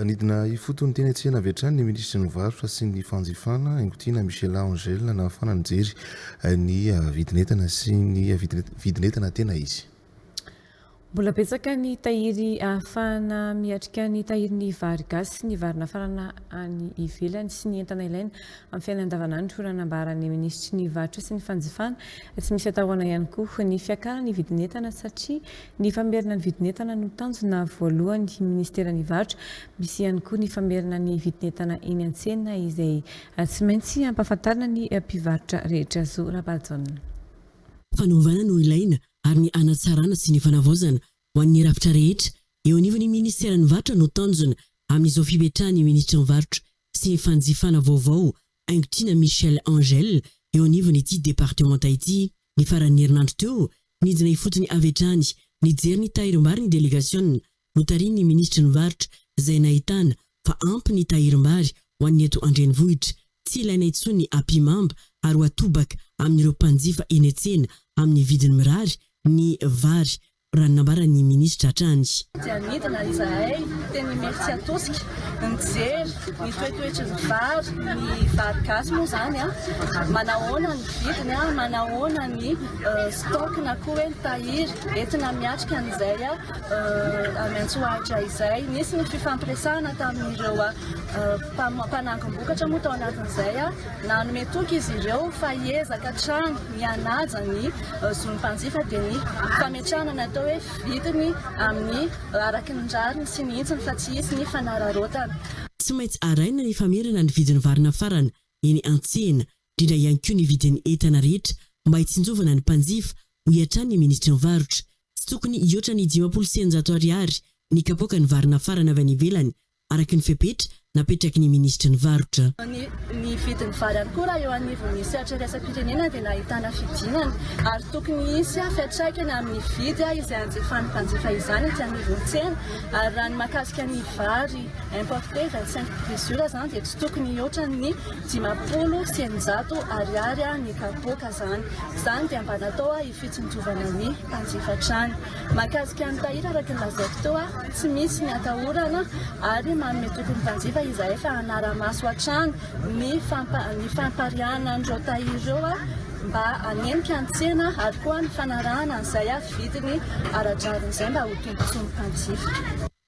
Nidina ifotony teny an-tsehana avy hatrany ny minisitry ny Varotra sy ny fanjifana, Haingotiana Michela Angel, nahafahana nijery ny vidin'entana sy ny vidin'entana tena izy. Mbola betsaka ny tahiry ahafahana miatrika ny tahirin'ny vary gasy sy ny vary nafarana any ivelany sy ny entana ilaina amin'ny fiainana andavanandro raha nambaran'ny minisitry ny Varotra sy ny fanjifana. Tsy misy atahorana ihany koa ny fiakaran'ny vidin'entana satria ny famerina ny vidin'entana no tanjona voalohan'ny minisiteran'ny Varotra. Misy ihany koa ny famerina ny vidin'entana eny an-tsena izay tsy maintsy ampahafantarina ny mpivarotra rehetra. Zo Rabahajaona. Fanovana no ilaina ary ny hanatsarana sy ny fanavaozana ho an'ny rafitra rehetra eo anivon'ny Ministeran'ny Varotra no tanjona amin'izao fipetrahan'ny Minisitry ny Varotra sy ny Fanjifana vaovao Haingotrina Michel Angel eo anivon'ity departemanta ity. Ny faran'ny herinandro teo, nidina ifotony avy hatrany nijery ny tahirim-bary ny delegasiona notarihin'ny minisitry ny Varotra izay nahitana fa ampy ny tahirim-bary ho an'ny eto an-drenivohitra, tsy ilaina intsony ny ampihimamba ary ho atobaka amin'ireo mpanjifa eny an-tsena amin'ny vidiny mirary ny vary raha ny nambaran'ny minisitra hatrany. Dia nidina izahay teny Imerintsiatosika, nijery ny toetoetry ny vary, ny vary gasy moa izany, manahoana ny vidiny, manahoana ny stock na koa hoe ny tahiry entina miatrika an'izay. Any Antsohaitra izay, nisy ny fifampiresahana tamin'ireo mpanangom-bokatra moa tao anatin'izay. Nanome toky izy ireo fa hiezaka hatrany ny hanaja ny zon'ny mpanjifa dia ny fametrahana ny atao hoe vidiny amin'ny araka ny rariny sy ny hitsiny fa tsy hisy ny fanararaotana. Tsy maintsy arahina ny famerana ny vidin'ny vary nafarana eny an-tsena, indrindra ihany koa ny vidin'ny entana rehetra mba hitsinjovana ny mpanjifa, hoy hatrany ny minisitry ny Varotra. Tsy tokony hihoatra ny dimampolo sy eninjato ariary ny kapoaka ny vary nafarana avy any ivelany, araka ny fepetra napetraky ny minisitry ny varotra. Ny vidin'ny vary ihany koa raha eo anivon'ny sehatra iraisam-pirenena dia nahitana fidinana ary tokony hisy fiantraikany amin'ny vidy izay hanjifan'ny mpanjifa izany etsy anivon'ny tsena ary raha ny mahakasika ny vary importé vingt cinq mesures izany dia tsy tokony hihoatra ny dimampolo sy eninjato ariary ny kapoaka izany dia mba natao fitsinjovana ny mpanjifa trano. Mahakasika an'i Tahiry araka ny lazaiko teo aho, tsy misy ny atahorana ary manome toky ny mpanjifa izahay fa hanara-maso hatrany ny ny fampariahana an'ireo tahiry ireo mba hanenika ny tsena ary koa ny fanarahana izay vidiny ara-drariny izay mba ho tombontsoan'ny mpanjifa.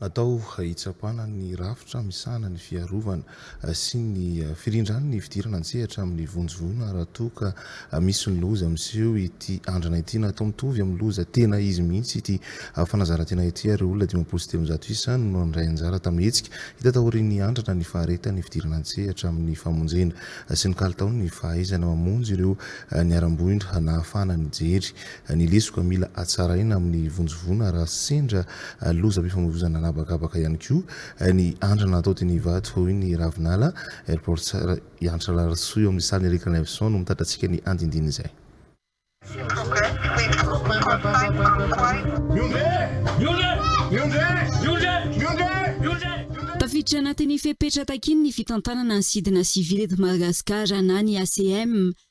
Natao hitsapana ny rafitra misahana ny fiarovana sy ny firindran ny fidirana an-tsehatra amin'ny vonjivoana raha toa ka misy ny loza miseho ity andrana ity. Natao mitovy amin'ny loza tena izy mihitsy ity fanazaran-tena ity ary olona dimampolo sy telonjato isa no nandray anjara tamin'ny hetsika hita taorian'ny andrana ny faharetan'ny fidirana an-tsehatra amin'ny famonjena sy ny kalitaon'ny fahaizana mamonjy ireo niharam-boina nahafahana nijery Ny lesoka mila hatsaraina amin'ny vonjivoana raha sendra lozam-pifamoivoizana an'habakabaka ihany koa ny andrana atao teny Ivato, hoy ny Ravinala, Airportser i Antra Larisoa eo amin'ny sarin'i Eric Levison no mitatra antsika ny andinindin'izay. Tafiditra anatin'ny fepetra takian'ny fitantanana ny Sidina Sivily eto Madagasikara na ny ACM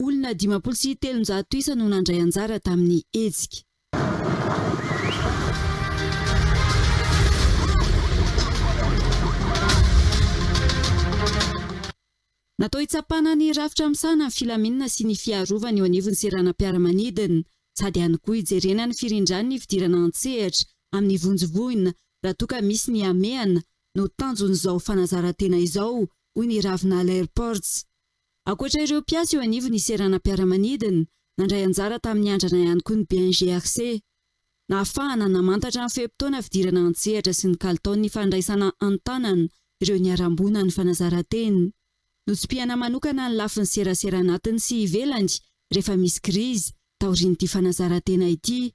Olona dimampolo sy telonjato isa no nandray anjara tamin'ny hetsika. Natao hitsapana ny rafitra misahana ny filaminana sy ny fiarovana eo anivon'ny seranam-piaramanidina. Sady ihany koa hijerena ny firindran'ny fidirana an-tsehatra amin'ny vonjy voina raha toa ka misy ny hamehana no tanjon'izao fanazaran-tena izao, hoy ny Ravinala Airports. Ankoatra ireo mpiasa eo anivon'ny seranam-piaramanidina, nandray anjara tamin'ny andrana ihany koa ny BNGRC. Nahafahana namantatra ny fe-potoana fidirana an-tsehatra sy ny kalitaon'ny fandraisana an-tanana ireo niharam-boina ny fanazaran-tena. Notsipihana manokana ny lafiny serasera anatiny sy ivelany rehefa misy krizy, taorian'ity fanazaran-tena ity.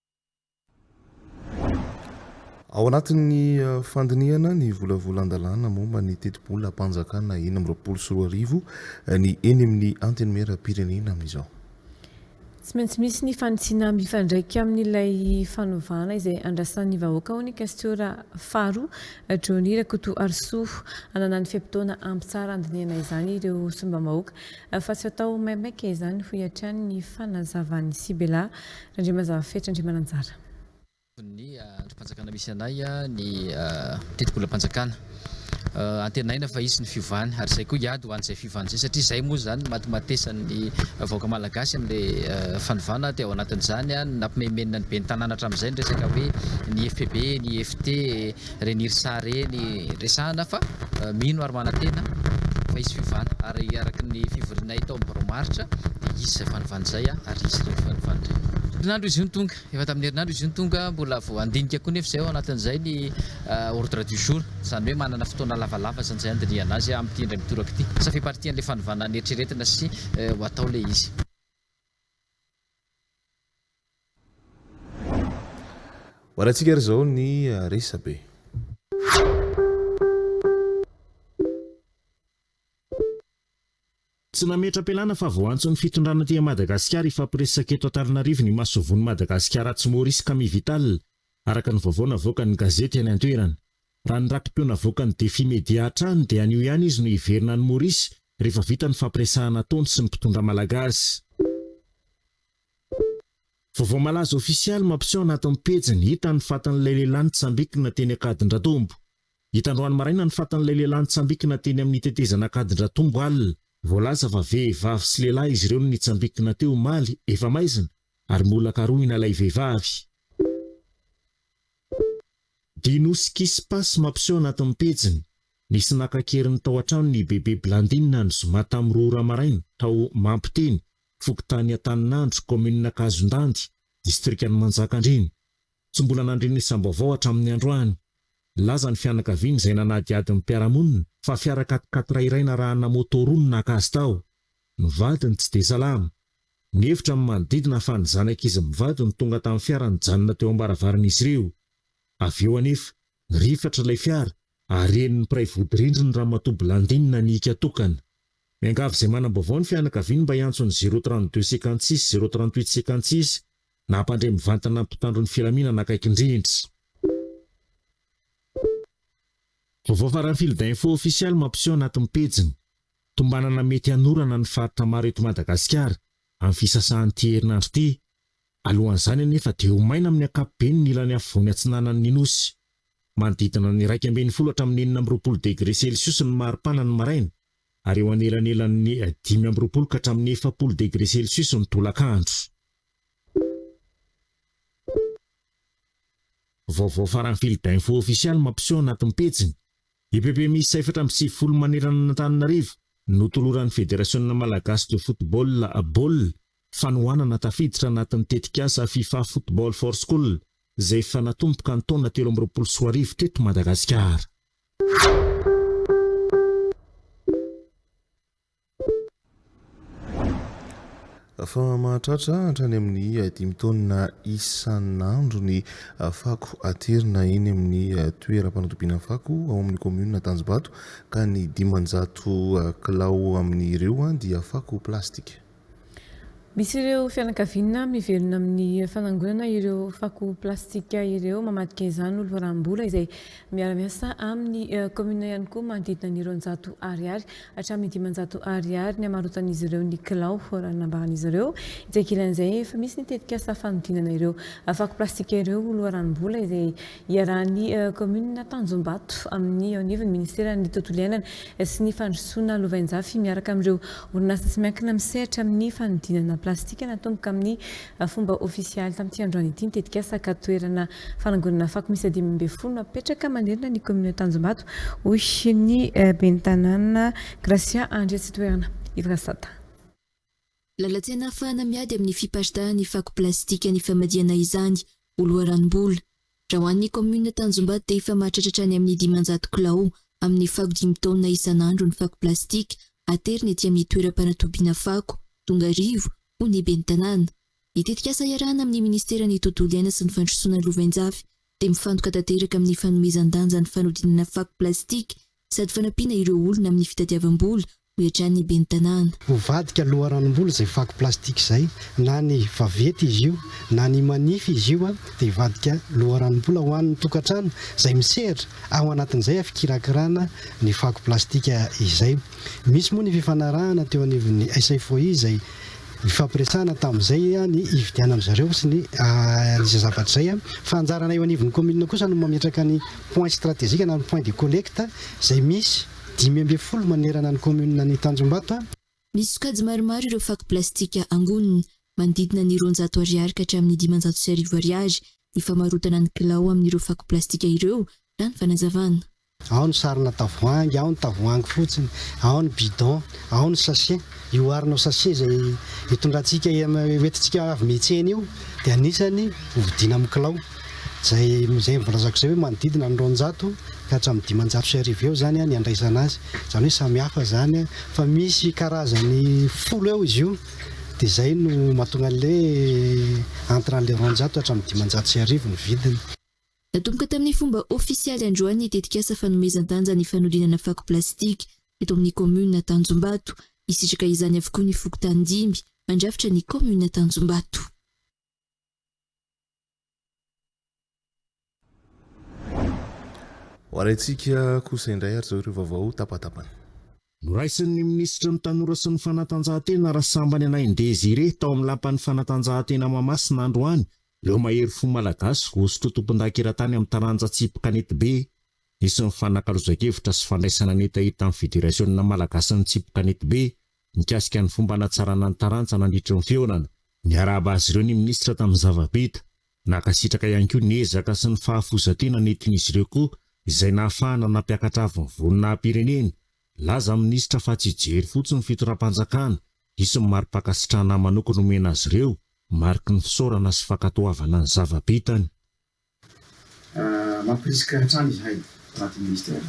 Ao anatin'ny fandinihana ny volavolan-dalàna momba ny tetibolam-panjakana enina amby roapolo sy roa arivo ny eny amin'ny Antenimieram-pirenena amin'izao. Tsy maintsy misy ny fanitsiana mifandraika amin'ilay fanovana izay andrasan'ny vahoaka hoy ny Kasiora faharoa Johnny Rakotoarisoa. Ananan'ny fe-potoana hampitsara handinihana izany ireo solombambahoaka fa tsy hatao maimaika izany hoy hatrany ny fanazavan'i Sibela Randriamazava Fetry Andriamananjara. ny andrim-panjakana misy anay ny tetibolam-panjakana. Antenaina fa hisy ny fiovany ary izay koa hiady ho an'izay fiovana izay satria izay moa izany no matimatesan'ny vahoaka malagasy amin'ilay fanovana dia ao anatin'izany ny nampimaimainina ny ben'ny tanàna hatramin'izay ny resaka hoe ny FPB, ny IFT, Renirsa reny resahana fa mino ary manantena fa hisy fiovana ary araka ny fivorianay tao amin'ny Barao Maritra dia hisy izay fanovana izay ary hisy ireny fanovana ireny. Herinandro izy io no tonga, efa tamin'ny herinandro izy io no tonga, mbola vao handinika koa nefa izay ao anatin'izay ny ordre du jour, izany hoe manana fotoana lavalava izany izay handinihana azy amin'ity indray mitoraka ity, ça fait partie an'ilay fanovana neritreretina sy ho atao ilay izy. Hoarantsika ary izao ny resabe. Tsy nametra-pialana fa vao antso ny fitondrana aty Madagasikara hifampiresaka eto Antananarivo ny masoivohon'i Madagasikara atsy Maurice Camille Vital, araka ny vaovao navoakan'ny gazety any an-toerana. Raha ny raki-peo navoakan'ny Defi Media hatrany dia anio ihany izy no hiverina any Maurice rehefa vita ny fampiresahana ataony sy ny mpitondra malagasy. Vaovao malaza ofisialy mampiseho anatin'ny pejiny hita ny fatin'ilay lehilahy nitsambikina teny Ankadindratombo. Hita androany maraina ny fatin'ilay lehilahy nitsambikina teny amin'ny tetezana Ankadindratombo alina. Voalaza fa vehivavy sy lehilahy izy ireo no nitsambikina teo omaly efa maizina ary mbola karohina ilay vehivavy. Dino sy Kispa sy mampiseho anatin'ny pejiny, nisy naka an-keriny tao an-tranony i Bebe Blandine ny zoma tamin'ny roa ora maraina, tao Mampiteny, fokontany Antaninandro, kaominina Kazondandy, distrikan'i Manjakandriana. Tsy mbola nandre ny isam-baovao hatramin'ny androany. Nilaza ny fianakaviany izay nanadihady ny mpiara-monina fa fiara quat-quatre iray narahana moto roa no naka azy tao. Ny vadiny tsy dia salama. Nihevitra ny manodidina fa ny zanak'izy mivady no tonga tamin'ny fiara nijanona teo am-baravaran'izy ireo. Avy eo anefa, nirifatra ilay fiara ary henon'ny mpiray vodirindriny Ramatoa Blandine nihiaka tokana. Miangavy izay manam-baovao ny fianakaviany mba hiantso ny zéro trente deux cinquante six zéro trente huit cinquante six na hampandre mivantana ny mpitandro ny filaminana akaiky indrindra. Vaovao faran'ny Fil d'info ofisialy mampiseho anatin'ny pejiny. Tombanana mety hanorana ny faritra maro eto Madagasikara amin'ny fisasahan'ity herinandro ity. Alohan'izany anefa dia ho maina amin'ny ankapobeny ny ilany afovoany atsinanan'ny Nosy. Manodidina ny iraika ambin'ny folo hatramin'ny enina amby roapolo degre celsius ny maripana ny maraina ary eo anelanelan'ny dimy amby roapolo ka hatramin'ny efapolo degre celsius ny tolakandro. Vaovao faran'ny Fil d'info ofisialy mampiseho anatin'ny pejiny EPP miisa efatra amby sivifolo manerana an'Antananarivo no toloran'ny Federasiona Malagasy de Football, Bol, fanohanana tafiditra anatin'ny tetikasa Fifa Football for School izay efa natomboka ny taona telo amby roapolo sy roa arivo teto Madagasikara. fa mahatratra hatrany amin'ny dimy taonina isan'andro ny fako aterina eny amin'ny toeram-panatobiana fako ao amin'ny kaominina Tanjombato ka ny dimanjato kilao amin'ireo dia fako plastika. Misy ireo fianakaviana mivelona amin'ny fanangonana ireo fako plastika ireo mamadika izany ho loharam-bola izay miara-miasa amin'ny kaominina ihany koa manodidina ny roanjato ariary hatramin'ny dimanjato ariary ny hamarotan'izy ireo ny kilao raha nambaran'izy ireo etsy ankilan'izay efa misy ny tetikasa fanodinana ireo fako plastika ireo ho loharanom-bola izay Iarahan'ny kaominina Tanjombato amin'ny eo anivon'ny minisiteran'ny Tontolo iainana sy ny fandrosoana lovainjafy miaraka amin'ireo orinasa tsy miankina misehatra amin'ny fanodinana plastika natomboka amin'ny fomba ofisialy tamin'ity androany ity ny tetikasa ka toerana fanangonana fako miisa dimy ambin'ny folo apetraka manerana ny kaominina Tanjombato hoy ny ben'ny tanàna Gracia Andriatsitoerana Yves Rasata. Lalatsena ahafahana miady amin'ny fiparitahan'ny fako plastika ny famadihana izany ho loharanom-bola. Raha ho an'ny kaominina Tanjombato dia efa mahatratratra any amin'ny dimanjato kilao amin'ny fako dimy taonina isan'andro ny fako plastika aterina ety amin'ny toeram-panatobiana fako Tongarivo, hoy ny ben'ny tanàna. Ny tetikasa iarahana amin'ny minisiteran'ny Tontolo iaina sy ny fandrosoana lovainjafy dia mifantoka tanteraka amin'ny fanomezan-danja ny fanodinana fako plastika sady fanampiana ireo olona amin'ny fitadiavam-bola, hoy hatrany ny ben'ny tanàna. Hovadika loharanom-bola izay fako plastika izay, na ny vaventy izy io na ny manify izy io dia hivadika loharanom-bola ho an'ny tokantrano izay misehatra, ao anatin'izay a fikirakirana ny fako plastika izay. Misy moa ny fifanarahana teo anivon'ny SFOI izay nifampiresahana tamin'izay a ny hividianan'izareo sy ny izay zavatra izay a, fa anjarana eo anivon'ny kaominina kosa no mametraka ny. Point stratégique na ny point de collecte izay misy dimy ambin'ny folo manerana ny kaominina ny Tanjombato. Misy sokajy maromaro ireo fako plastika angonina, manodidina ny roanjato Ariary ka hatramin'ny dimanjato sy arivo Ariary ny famarotana ny kilao amin'ireo fako plastika ireo, raha ny fanazavana. Ao ny sarina tavoahangy, ao ny tavoahangy fotsiny, ao ny bidon, ao ny sachet. Io arnaud sachet izay itondrantsika, hoentintsika avy mihitsena io dia anisany hovidiana amin'ny kilao. izay izay voalazako izay hoe manodidina ny roanjato ka hatramin'ny dimanjato sy arivo eo izany ny handraisana azy, izany hoe samy hafa izany fa misy karazany folo eo izy io dia izay no mahatonga an'ilay entre an'ilay roanjato hatramin'ny dimanjato sy arivo ny vidiny. Natomboka tamin'ny fomba ofisialy androany ny tetikasa fanomezan-danja ny fanodinana fako plastika eto amin'ny kaominina Tanjombato. Hisitraka izany avokoa ny fokontany dimy mandrafitra ny kaominina Tanjombato. Ho arahintsika kosa indray ary izao ireo vaovao tapatapany. Noraisin'ny minisitry ny Tanora sy ny fanatanjahantena Rasambany Anahy Désiré tao amin'ny lapan'ny fanatanjahantena Mahamasina androany ireo mahery fo malagasy voasotroa tompondaka eran-tany amin'ny taranja tsipy kanetibe. Nisy ny fanakalozan-kevitra sy fandraisana ny hetaheta amin'ny Federasiona malagasin'ny tsipy kanetibe mikasika ny fomba hanatsarana ny taranja nandritry ny fihaonana. Niarahaba azy ireo ny minisitra tamin'ny zava-bita. Nankasitraka ihany koa ny ezaka sy ny fahafoizan-tena nentin'izy ireo koa izay nahafahana nampiakatra avo ny voninahi-pirenena. Nilaza ny minisitra fa tsy hijery fotsiny ny fitondram-panjakana, hisy ny mari-pankasitrahana manokana homena azy ireo, mariky ny fisaorana sy fankatoavana ny zava-bitany. Mampirisika hatrany izahay, anaty Minisitera,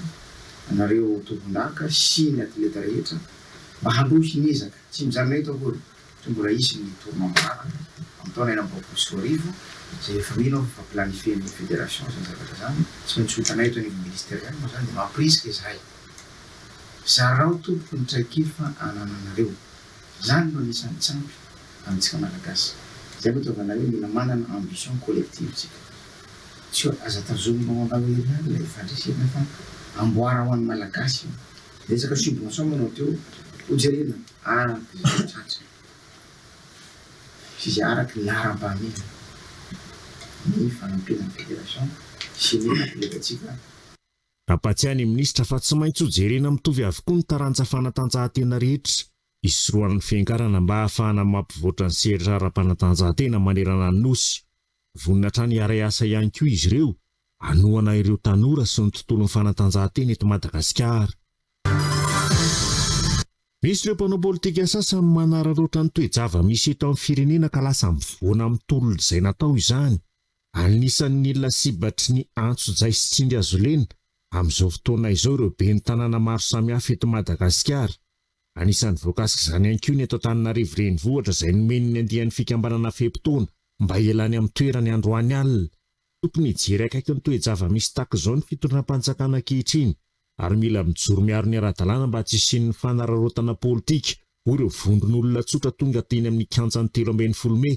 anareo tompondaka sy ny atleta rehetra mba handroso ny ezaka tsy mijanona eto akory toy mbola hisy ny Tournoi Marara amin'ny taona enina amby roapolo sy roa arivo izay efa mino aho fa planifie-n'ny Fédération izany zavatra izany. Tsy maintsy ho hitanay eto anivon'ny Ministeriama izany dia mampirisika izahay. Zarao tompoko ny traikefa anananareo. Izany no anisan'ny tsy ampy amintsika Malagasy. Izay no itiavana hoe mila manana ambition collective tsika. Tsy hoe aza tazominao anao ery ihany ilay fandresena fa amboara ho an'ny Malagasy io. Betsaka subvention manao teo ho jerena araky izay tratry ny sy izay araky ny laharam-pahamehana ny fanampiana ny federation sy ny atletantsika. Nampahatsiahy ny minisitra fa tsy maintsy hojerena mitovy avokoa ny taranja fanatanjahantena rehetra, hisorohan'ny fiangarana mba hahafahana mampivoatra ny sehatra ara-panatanjahantena manerana ny Nosy. Vonona hatrany hiaray asa ihany koa izy ireo hanohana ireo tanora sy ny tontolon'ny fanatanjahantena eto Madagasikara. Misy ireo mpanao politika sasany manararaotra ny toe-java-misy eto amin'ny firenena ka lasa mivoana amin'ny tolona izay natao izany. Anisan'ny ny lasibatry ny antso jay sy tsingy azo lena amin'izao fotoana izao ireo ben'ny tanàna maro samihafa eto Madagasikara. Anisan'ny voakasik'izany ihany koa ny eto Antananarivo renivohitra izay nomeny ny andiany fikambanana fe-potoana mba hialany amin'ny toerany androany alina. Tokony hijery akaiky ny toe-java-misy tahaka izao ny fitondram-panjakana ankehitriny ary mila mijoro miaro ny ara-dalàna mba tsy hisian'ny fanararaotana politika, hoy ireo vondron'olona tsotra tonga teny amin'ny kianjan'ny telo ambin'ny folo mey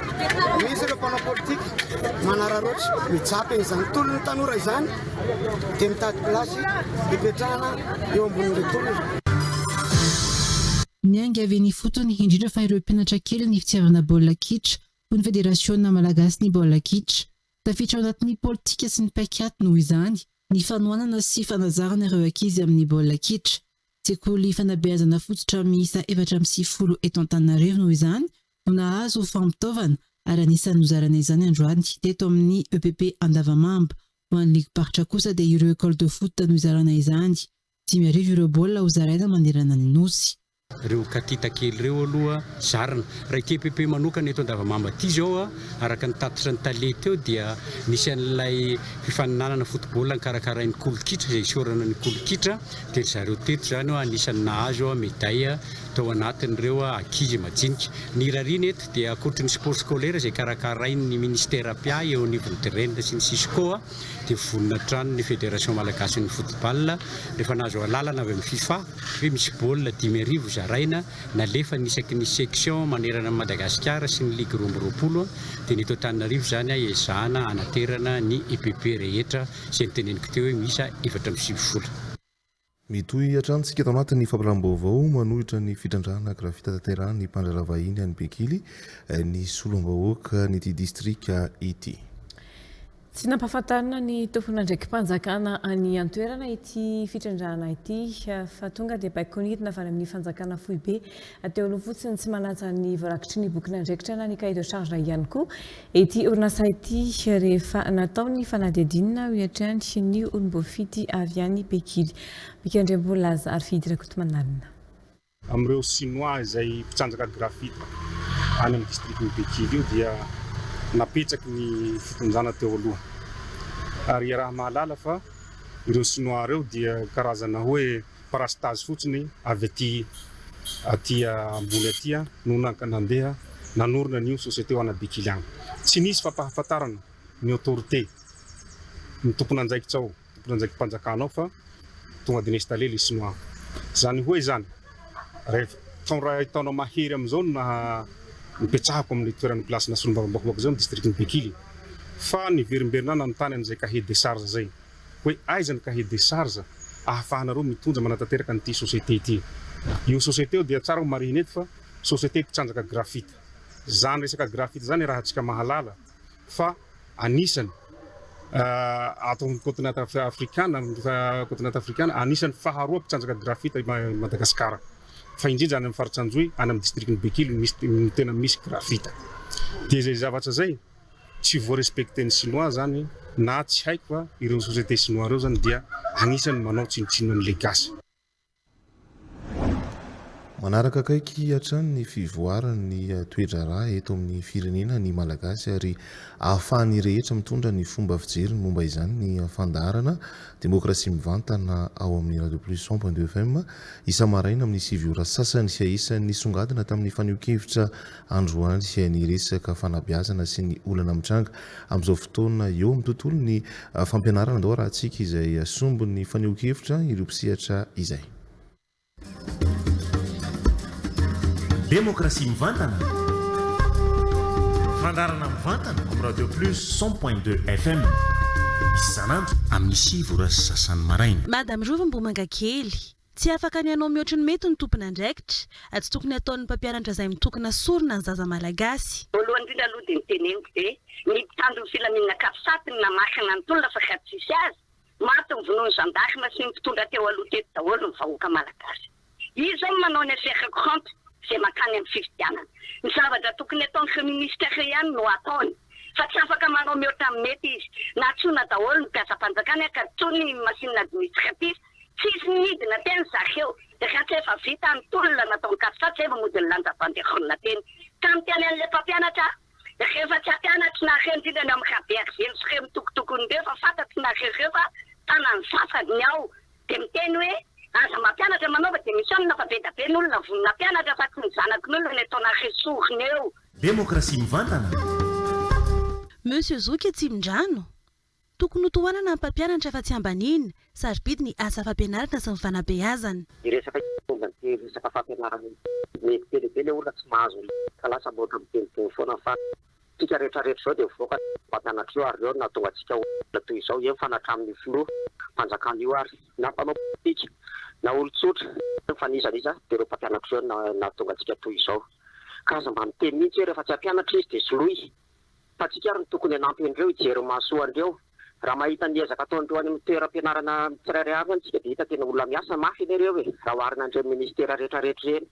Misy ireo mpanao politika manararaotra mitsapa izany tolona ny tanora izany dia mitady place hipetrahana eo ambonin'ireo tolona. Niainga avy eny ifotony, indrindra fa ireo mpianatra kely ny fitiavana baolina kitra ho ny Federasiona malagasin'ny baolina kitra. Tafiditra ao anatin'ny politika sy ny paik'ady noho izany ny fanohanana sy fanazarana ireo ankizy amin'ny baolina kitra. Sekoly fanabeazana fototra miisa efatra amby sivifolo eto Antananarivo noho izany no nahazo ho fampitaovana ary anisan'ny nozarana izany androany teto amin'ny epp Andavamamba. Ho an'ny ligim-paritra kosa dia ireo ecole de foot no izarana izany. Dimy arivo ireo baolina ho zaraina manerana ny Nosy. Ireo katita kely ireo aloha zarina. Raha ity epp manokana eto Andavamamba ity izao araka ny tatitra ny tale teo dia misy an'ilay fifaninanana football karakarain'ny kolon-kitra izay isaorana ny kolon-kitra dia ry zareo teto izany anisan'ny nahazo medaille tao anatin'ireo ankizy majinika. Ny rariny eto dia ankoatry ny sport scolaire izay karakarain'ny Ministera mpiahy eo anivon'ny Dren sy ny Cisco dia vonona hatrany ny Federation Malagasin'ny Football rehefa nahazo alalana avy amin'ny Fifa hoe misy baolina dimy arivo zaraina nalefany isaky ny section manerana an'i Madagasikara sy ny ligue roa amby roapolo teny eto Antananarivo izany hiezahana hanaterana ny EPP rehetra izay noteneniko teo hoe miisa efatra amby sivy vola. Mitohy hatrany isika ato anatin'ny fampitam-baovao manohitra ny fitrandrahana gravita tanterahin'ny mpandraharaha vahiny any Bekily ny solombavahoakan'ity distrika ity. Tsy nampahafantarina ny tomponandraiki-panjakana any an-toerana ity fitrandrahana ity fa tonga dia baikon'idina avy any amin'ny fanjakana foibe Dia olona fotsiny tsy manaja ny voarakitry ny bokin'andraikitra na ny cahier de charge ihany koa ity orinasa ity rehefa natao ny fanadihadiana hoy hatrany ny olom-boafidy avy any Pekily. Mika Andriambolaza ary Fidy Rakotomanalina. Amin'ireo Sinoa izay mpitsanjaka grafita any amin'ny distrikan'i Bekily io dia napetsaky ny fitondrana teo aloha. Ary iaraha-mahalala fa ireo Sinoa ireo dia karazana hoe. Parastase fotsiny avy aty aty ambony aty no nandeha nanorina an'io société ho ana Bekily agny. Tsy nisy fampahafantarana ny autorité, ny tompon'andraikitra ao, tompon'andraiki-panjakana ao fa tonga dia ni-installer le sinoa. Zany hoe zany, rehefa taona ray taona mahery amizao no naha nipetrahako amle toerana place-na Solombavambakovaky zao ny district-ny Bekily fa niverimberina nanontany an'izay cahier de charge zay. Hoe aiza ny cahier des charges ahafahanareo mitondra manatanteraka an'ity société ity? Io société io dia tsara ho marihina eto fa société mpitrandraka graphite. Zany resaka graphite zany iarahantsika mahalala fa anisany ato amin'ny continent afrikana, continent afrikana, anisany faharoa mpitrandraka graphite i Madagasikara. Fa indrindra any amin'ny faritra Anjohy, any amin'ny district-n'i Bekily no tena misy graphite. Dia izay zavatra izay, Tsy voa respecter ny sinoa zany na tsy haiko a, ireo société sinoa ireo zany dia agnisany manao tsinontsinona an'le gasy. Manaraka akaiky hatrany ny fivoaran'ny toe-draharaha eto amin'ny firenena ny Malagasy ary ahafahan'ny rehetra mitondra ny fomba fijeriny momba izany ny fandaharana Demokrasia Mivantana ao amin'ny Radio Plus cent point deux FM isa-maraina amin'ny sivy ora sasany sy ahisany nisongadina tamin'ny fanehoan-kevitra Androany niresaka fanabeazana sy ny olana mitranga amin'izao fotoana eo amin'ny tontolon'ny fampianarana Andao harahantsika izay sombin'ny fanehoan-kevitra ireo mpisehatra izay. Demokrasia mivantana, fandaharana mivantana amin'ny Radio Plus cent point deux FM isan'andro amin'ny sivy ora sy sasany maraina. Madame Roromboamangakely. Tsy afaka ny hanao mihoatry ny mety ny tompon'andraikitra, ary tsy tokony hataon'ny mpampianatra izay mitokona sorona ny zaza malagasy. Voalohany indrindra aloha dia ny teneniko dia ny mpitandro ny filaminana Capsat no namaky nanontolona fa ka tsisy azy, maty ny vonoan'ny gendarme sy ny mpitondra teo aloha teto daholo ny vahoaka malagasy. Izy izao no manao ny affaire courante izay mankany amin'ny fifidianana. Ny zavatra tokony ataon'ireo minister ihany no ataony fa tsy afaka manao mihoatra ny mety izy. Nahantsoina daholo ny mpiasam-panjakana ka toy ny machine administratif Tsisy nidina teny Zakeo, raha tsy efa vita ny tolona nataon'i Katsatsa eo mody nilanja banderole teny. Ka niteny an'ilay mpampianatra aho, Rehefa tsy hampianatry nareo indrindra ny amin'i Rabearizely sy ireo mitokotoko nireo fa fantatry nareo ireo fa tanan'ny sasany ny ao dia miteny hoe aza mampianatra manaova dia misy olona fa bedabe ny olona vonona hampianatra fa tsy ny zanakin'olona ny ataonareo sorona eo. Demokrasia mivantana! Monsieur Zoky Atsimondrano! Tokony ho tohanana ny mpampianatra fa tsy ambaniana. Sarobidy ny asa fampianarana sy ny fanabeazana. Ny resaka io tonga amin'ity resaka fampianarana ity. Mety be dia be ilay olona tsy mahazo ny ka lasa mbola miteniteny foana ny fatra. Isika rehetrarehetra izao dia mivoaka ny mpampianatra io ary ireo no nahatonga antsika ho olona toy izao eny fa na hatramin'io filoha mpanjakana io ary na mpanao politika na olon-tsotra eny fa n'iza n'iza dia ireo mpampianatra ireo no nahatonga antsika toy izao ka aza mba miteny mihitsy hoe rehefa tsy hampianatra izy dia soloy Fa tsika ary no tokony hanampy an'ireo hijery ny mahasoa an'ireo. Raha mahita ny ezaka ataon'ireo any amin'ny toeram-pianarana tsirairay avy any tsika dia hita tena olona miasa mafy anie ireo e, raha oharina an'ireny ministera retraretra ireny.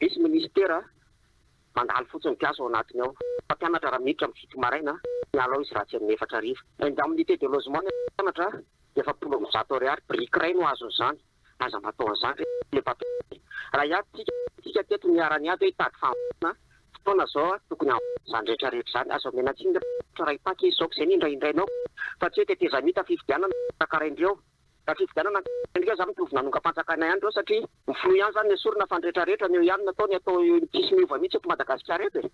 Misy ministera mandalo fotsiny mpiasa ao anatiny ao. Mpampianatra raha miditra amin'ny fito maraina, miala ao izy raha tsy amin'ny efatra hariva. Indemnité de logement ny mpianatra dia efapolo amby zato ariary, biriky iray no azon'izany. Aza mba atao an'izany re le mpampianatra e! Raha hiato tsika dia tsika teto no iharan'ny hiato hoe hitady fahavalona a! Fotoana izao a! Tokony hahavita izany rehetra rehetra izany. Aza omena tsiny re mpampianatra raha hitaky izy izao ka izay no indraindrainao fa tsy hoe tetezamita fifidianana no karakarain-dry ireo. Raha fifidianana no karakarain-dry ireo za mitovy nanongam-panjakana ihany ireo satria ny filoha ihany izany no esorina fa ny rehetra rehetra ny eo ihany no atao, ny atao eo tsisy miova mihitsy eto Madagasikara eto e!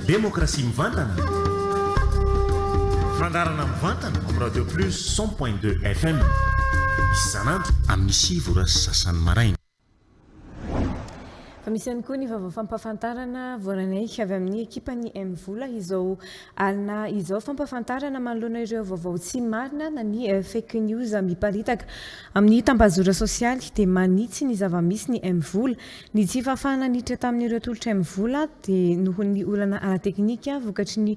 Demokrasia mivantana, fandaharana mivantana amin'ny Radio Plus cent point deux FM isan'andro amin'ny sivy ora sy sasany maraina. Fa misy ihany koa ny vaovao fampahafantarana voaranay avy amin'ny ekipan'ny M Vola izao alina izao. Fampahafantarana manoloana ireo vaovao tsy marina na ny eh, fake news miparitaka amin'ny tambazora sosialy dia manitsy ny zava-misy ny M Vola. Ny tsy fahafahana niditra tamin'ireo tolotray mivola dia noho ny olana ara-teknika vokatry ny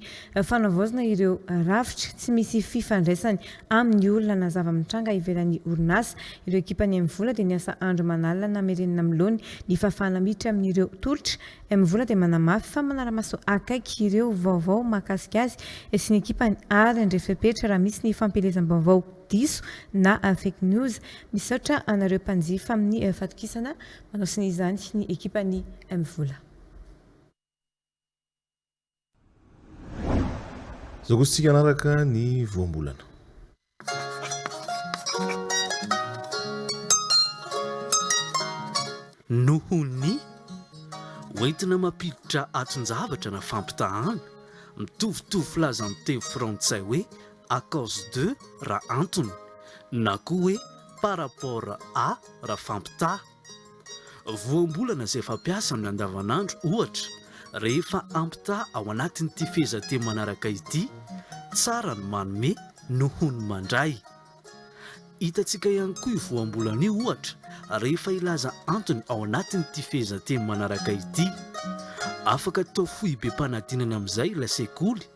fanavaozana ireo rafitra. Tsy misy fifandraisany amin'ny olana na zava-mitranga ivelan'ny orinasa. Ireo ekipan'ny Mvola dia miasa andro aman'alina na mirenina amin'ny laoniny ny fahafahana miditra amin'ireo tolotra. Mvola dia manamafy fa manara-maso akaiky ireo vaovao mahakasika azy sy ny ekipany ary handray fepetra raha misy ny fampielezam-baovao. diso na fake news. Misaotra anareo mpanjifa amin'ny fatokisana manao sonia izany ny ekipan'i M Vola. Zokizintsika hanaraka ny voambolana. Noho ny ho entina mampiditra aton-javatra na fampitahàna, mitovitovy filaza amin'ny teny frantsay hoe à cause de raha antony na koa hoe par rapport à raha fampitaha. Voambolana izay fampiasa amin'ny andavanandro, ohatra, rehefa ampitaha ao anatin'ity fehezanteny manaraka ity, Tsara ny manome noho ny mandray. Hitantsika ihany koa io voambolana io, ohatra, rehefa hilaza antony ao anatin'ity fehezanteny manaraka ity. Afaka atao foibem-panadinana amin'izay ilay sekoly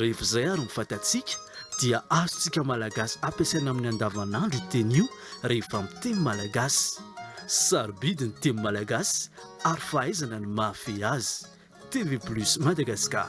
Rehefa izay ary ny fatantsika dia azontsika Malagasy ampiasaina amin'ny andavanandro io teny io rehefa miteny Malagasy. Sarobidy ny teny Malagasy ary fahaizana ny mahafehy azy. TV Plus Madagascar.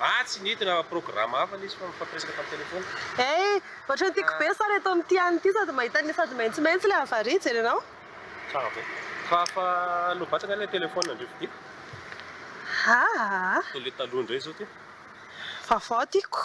Ah tsy nidina programa hafa nisy fa nifampiresaka tam telephone. Hey, ohatrany tiako be sary eto amin'ity any ity, sady mahita an'ilay sady maitsomaitso ilay avaria, jery anao. Tsara be. Fa afa lovatsy angaha ilay telephone ndry vidiako. Haa. Toa ilay taloha indray izao ty. Vaovao tiako.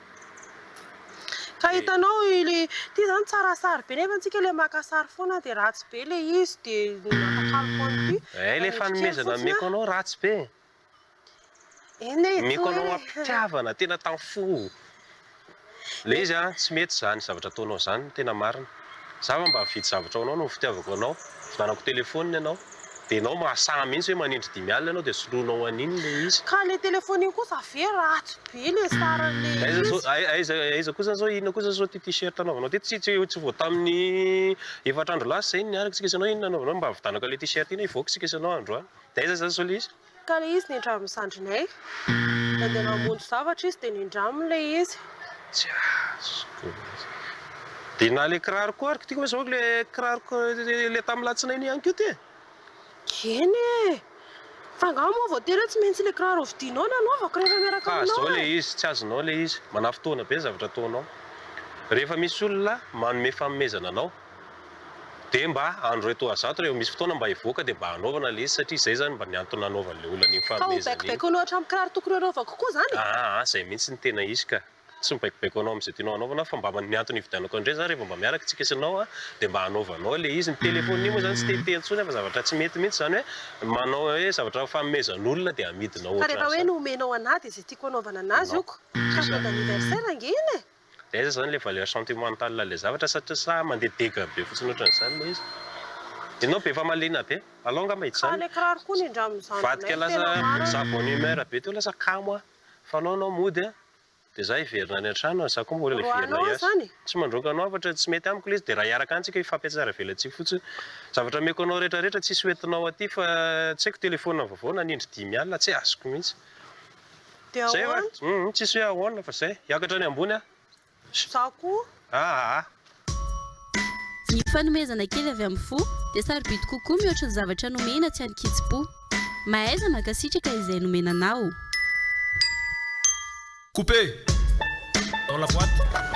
Ka hitanao ilay ity zany tsara sary be nefa antsika ilay maka sary foana dia ratsy be ilay izy dia matakalo foana ity. Eh ilay fanomezana omeko anao ratsy be e. Eny e. Omeko anao am-pitiavana tena tam-fo. Ilay izy an, tsy mety izany zavatra ataonao izany ny tena marina. Za va mba mifidy zavatra ho anao noho ny fitiavako anao? Vidanako telephone ianao. Dia ianao mahasaha mihitsy hoe manindry dimy alina ianao dia soloinao an'iny ilay izy. Ka ilay telephone iny kosa ve ratsy be ilay saran'ilay izy. Aiza aiza kosa zao inona kosa zao ity t-shirt anaovanao ity? Tsy tsy tsy vao tamin'ny efatra andro lasa izay no niaraka isika sy ianao inona no anaovanao? Mba vidanako ilay t-shirt iny hivoaka isika sy ianao androany. Dia aiza zany zao ilay izy? Ka ilay izy nindramin'ny zandrinay. Nandeha namonjy zavatra izy dia nindraminy ilay izy. Tsy azoko mihitsy. Dia na ilay kiraro koa ary kitihiko ve zao ilay kiraroko ilay tamin'ny latsinainy ihany koa ity e? Eny e! Fa angaha moa voatery hoe tsy maintsy ilay kiraro hovidianao no anaovako rehefa miaraka aminao e? Ka zao ilay izy, tsy azonao ilay izy. Manafintohina be ny zavatra ataonao. Rehefa misy olona manome fanomezana anao. dia mba andro iray toa zato rehefa misy fotoana mba hivoaka dia mba hanaovana ilay izy satria izay izany mba ny antony nanaovany ilay olona an'iny fanomezana iny. Ka ho baikobaiko anao hatramin'ny kiraro tokony hanaovako koa izany e? Aa izay mihitsy no tena izy ka! Tsy mibaikobaiko anao amin'izay tianao hanaovana fa mba ny antony hividianako an'ireny izany rehefa mba miaraka isika sy ianao dia mba hanaovanao ilay izy. Ny telefaoniny iny moa izany tsy tehitehina intsony aho fa zavatra tsy mety mihitsy izany hoe manao hoe zavatra fanomezan'olona dia hamidinao ohatran'izany. Fa rehefa hoe nomenao an'ahy dia izay tiako hanaovana an'azy ok ka joyeux anniversaire ange iny e! dia aiza izany ilay valeur sentimentale ilay zavatra satria sa mandeha dega be fotsiny ohatran'izany ilay izy? Ianao be famaliana be, alou angamba hita izany ilay kiraro koa nindramin'ny zandrinay tena marina e! Vadika lasa za bonne humeur be teo lasa kamo aho, fanao ianao mody an! dia za hiverina any an-trano an! za koa mbola hiverina hiasa, tsy mandroaka anao hafatra tsy mety amiko ilay izy dia raha hiaraka any tsika hifampihatsara velatsihy fotsiny, zavatra omeko anao rehetrarehetra tsisy hoentinao aty fa tsy haiko telephone vaovao nanindry dimy alina tsy azoko mihitsy. De Zay va? ahoana? Humm tsisy hoe ahoana fa zay. Hiakatra any ambony aho. Za koa. Aa. Ny fanomezana kely avy amin'ny fo dia sarobidy kokoa mihoatra ny zavatra nomena tsy an-kitsim-po. Mahaiza mankasitraka izay nomena anao. Couper dans la boite.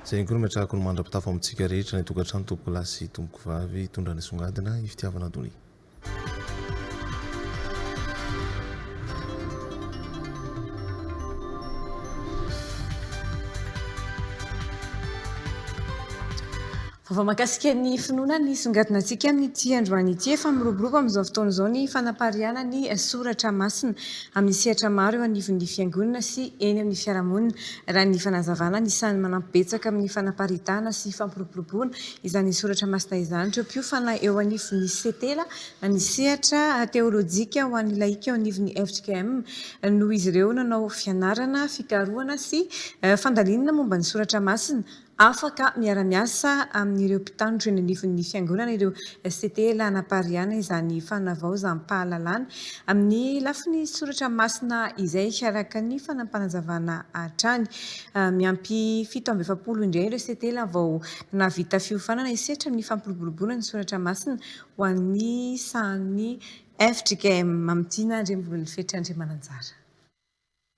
Izay ihany koa no metrahako ny mandra-pitafo amintsika rehetra, ny tokantrano, tompokolahy sy tompokovavy, hitondra ny songadina, ny fitiavana donia. Vaovao mahakasika ny finoana nisongadina antsika amin'ity androany ity. Efa miroborobo amin'izao fotoana izao ny fanapariahana ny soratra masina. amin'ny sehatra maro eo anivon'ny Fiangonana sy eny amin'ny fiarahamonina, raha ny fanazavana ny sahy manampy betsaka amin'ny fanaparitahana sy fampiroboroboana izany soratra masina izany ireo mpiofana eo anivon'ny Setela, na ny sehatra teolojika ho an'ny laika eo anivon'ny fjkm, noho izy ireo nanao fianarana, fikarohana sy fandalinana momba ny soratra masina, Afaka miara-miasa amin'ireo mpitandro eny anivon'ny Fiangonana ireo CTL hanapariahana izany fanavaozam-pahalalana amin'ny lafiny soratra masina izay, araka ny fanapanazavana hatrany. Miampy fito amby efapolo indray ireo CTL vao nahavita fiofanana hisehatra amin'ny fampiroboroboana ny soratra masina ho an'ny sahan'ny fjkm Mamitiana Andriambololefetra Andriamananjara.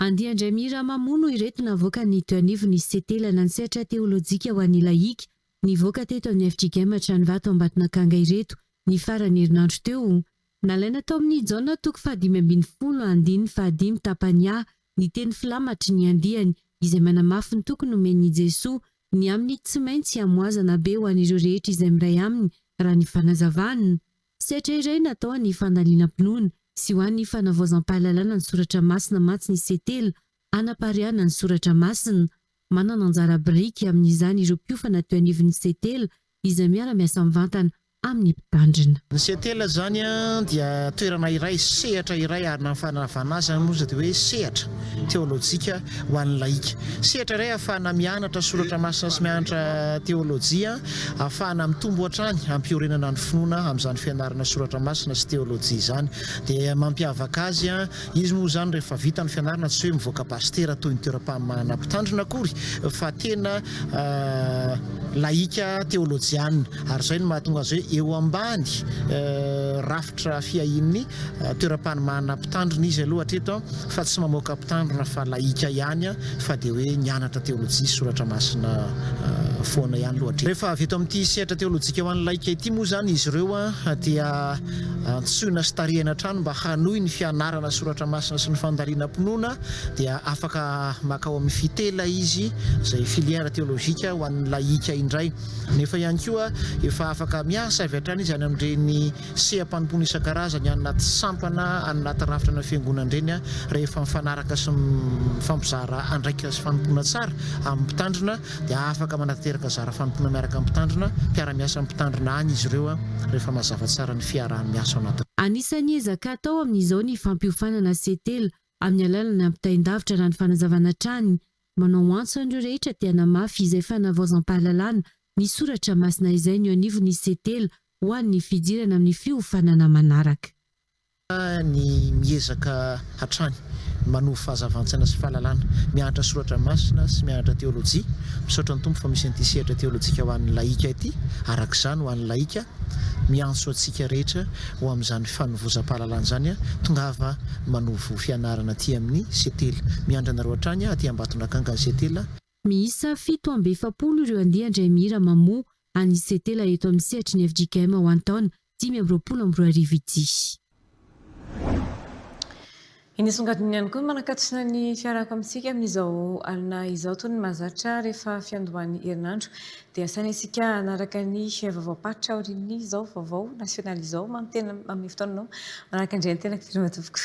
Andia indray mihira mamono ireto navoaka ny teo anivon'ny Setelana ny sehatra teolojika ho an'ny lahika, nivoaka teto amin'ny FJKM Atranivato Ambatonakanga ireto ny faran'ny herinandro teo. Nalaina tao amin'ny Jaona toko fahadimy ambin'ny folo andininy fahadimy tapany A ny teny filamatry ny andiany izay manamafy ny toky nomen'i Jesoa ny amin'ny tsy maintsy hamoazana be ho an'ireo rehetra izay miray aminy raha ny fanazavana Sehatra iray natao any fandalinam-pinoana sy ho any fanavaozam-pahalalana ny soratra masina mantsy ny setela, hanapariahana ny soratra masina. Manana anjara biriky amin'izany ireo mpiofana teo anivon'ny setela izay miara-miasa mivantana amin'ny mpitandrina. Ny setela izany dia toerana iray, sehatra iray ary na ny fanavahana azy izany moa izay dia hoe sehatra teolojika ho an'ny lahika. Sehatra iray ahafahana mianatra soratra masina sy mianatra teolojia, ahafahana mitombo hatrany hampiorenana ny finoana amin'izany fianarana soratra masina sy teolojia izany dia mampiavaka azy. Izy moa izany rehefa vita ny fianarana tsy hoe mivoaka pasitera toy ny toeram-pamoahana mpitandrina akory fa tena lahika teolojiana ary izay no mahatonga azy hoe eo ambany rafitra fiahian'ny toeram-panomahana mpitandrina izy aloha hatreto. Fa tsy mamoaka mpitandrina fa lahika ihany fa dia hoe nianatra teolojia sy soratra masina foana ihany lohatry. Rehefa avy eto amin'ity sehatra teolojika ho an'ny laika ity moa izany izy ireo dia antsoina sy tarihina hatrany mba hanohy ny fianarana soratra masina sy ny fandalinam-pinoana dia afaka makao amin'ny fitela izy izay filière théologique ho an'ny lahika indray nefa ihany koa efa afaka miasa avy hatrany izy any amin'ireny seha-panompoana isan-karazany any anaty sampana, any anaty rafitra ana fiangonana ireny rehefa mifanaraka sy mifampizara andraikitra sy fanompoana tsara amin'ny mpitandrina dia afaka manatanteraka zara fanompoana miaraka amin'ny mpitandrina, mpiara-miasa amin'ny mpitandrina any izy ireo rehefa mazava tsara ny fiaraha-miasa ao anatin'ny. Anisan'ny ezaka atao amin'izao ny fampiofanana setela amin'ny alalan'ny ampitain-davitra na ny fanazavana hatrany Manao antso an'ireo rehetra te hanamafy izay fanavaozam-pahalalana ny soratra masina izay ny eo anivon'ny CETEL ho an'ny fidirana amin'ny fiofanana manaraka. ny miezaka hatrany manovo fahazavan-tsaina sy fahalalana mianatra soratra masina sy mianatra teolojia. Misaotra ny Tompo fa misy an'ity sehatra teolojika ho an'ny lahika ity, araka izany ho an'ny lahika Miantso antsika rehetra ho amin'izany fanovozam-pahalalana izany aho. Tongava manovo fianarana aty amin'ny Setel. Miandry anareo hatrany aty Ambatondrakanga ny Setel. Miisa fito amby efapolo ireo andian-dRaimihira mamoha an'ny Setel eto amin'ny sehatry ny fjkm ho an'ny taona dimy amby roapolo amby roa arivo ity. Eny asongadininy ihany koa ny manakatsina ny fiarahako amintsika amin'izao alina izao toy ny mahazatra rehefa fiandohan'ny herinandro dia asaina isika hanaraka ny vaovaom-paritra aorian'izao vaovao nasionaly izao, manome fotoana anao manaraka ny renin-tenako ve ry matoa tompoko?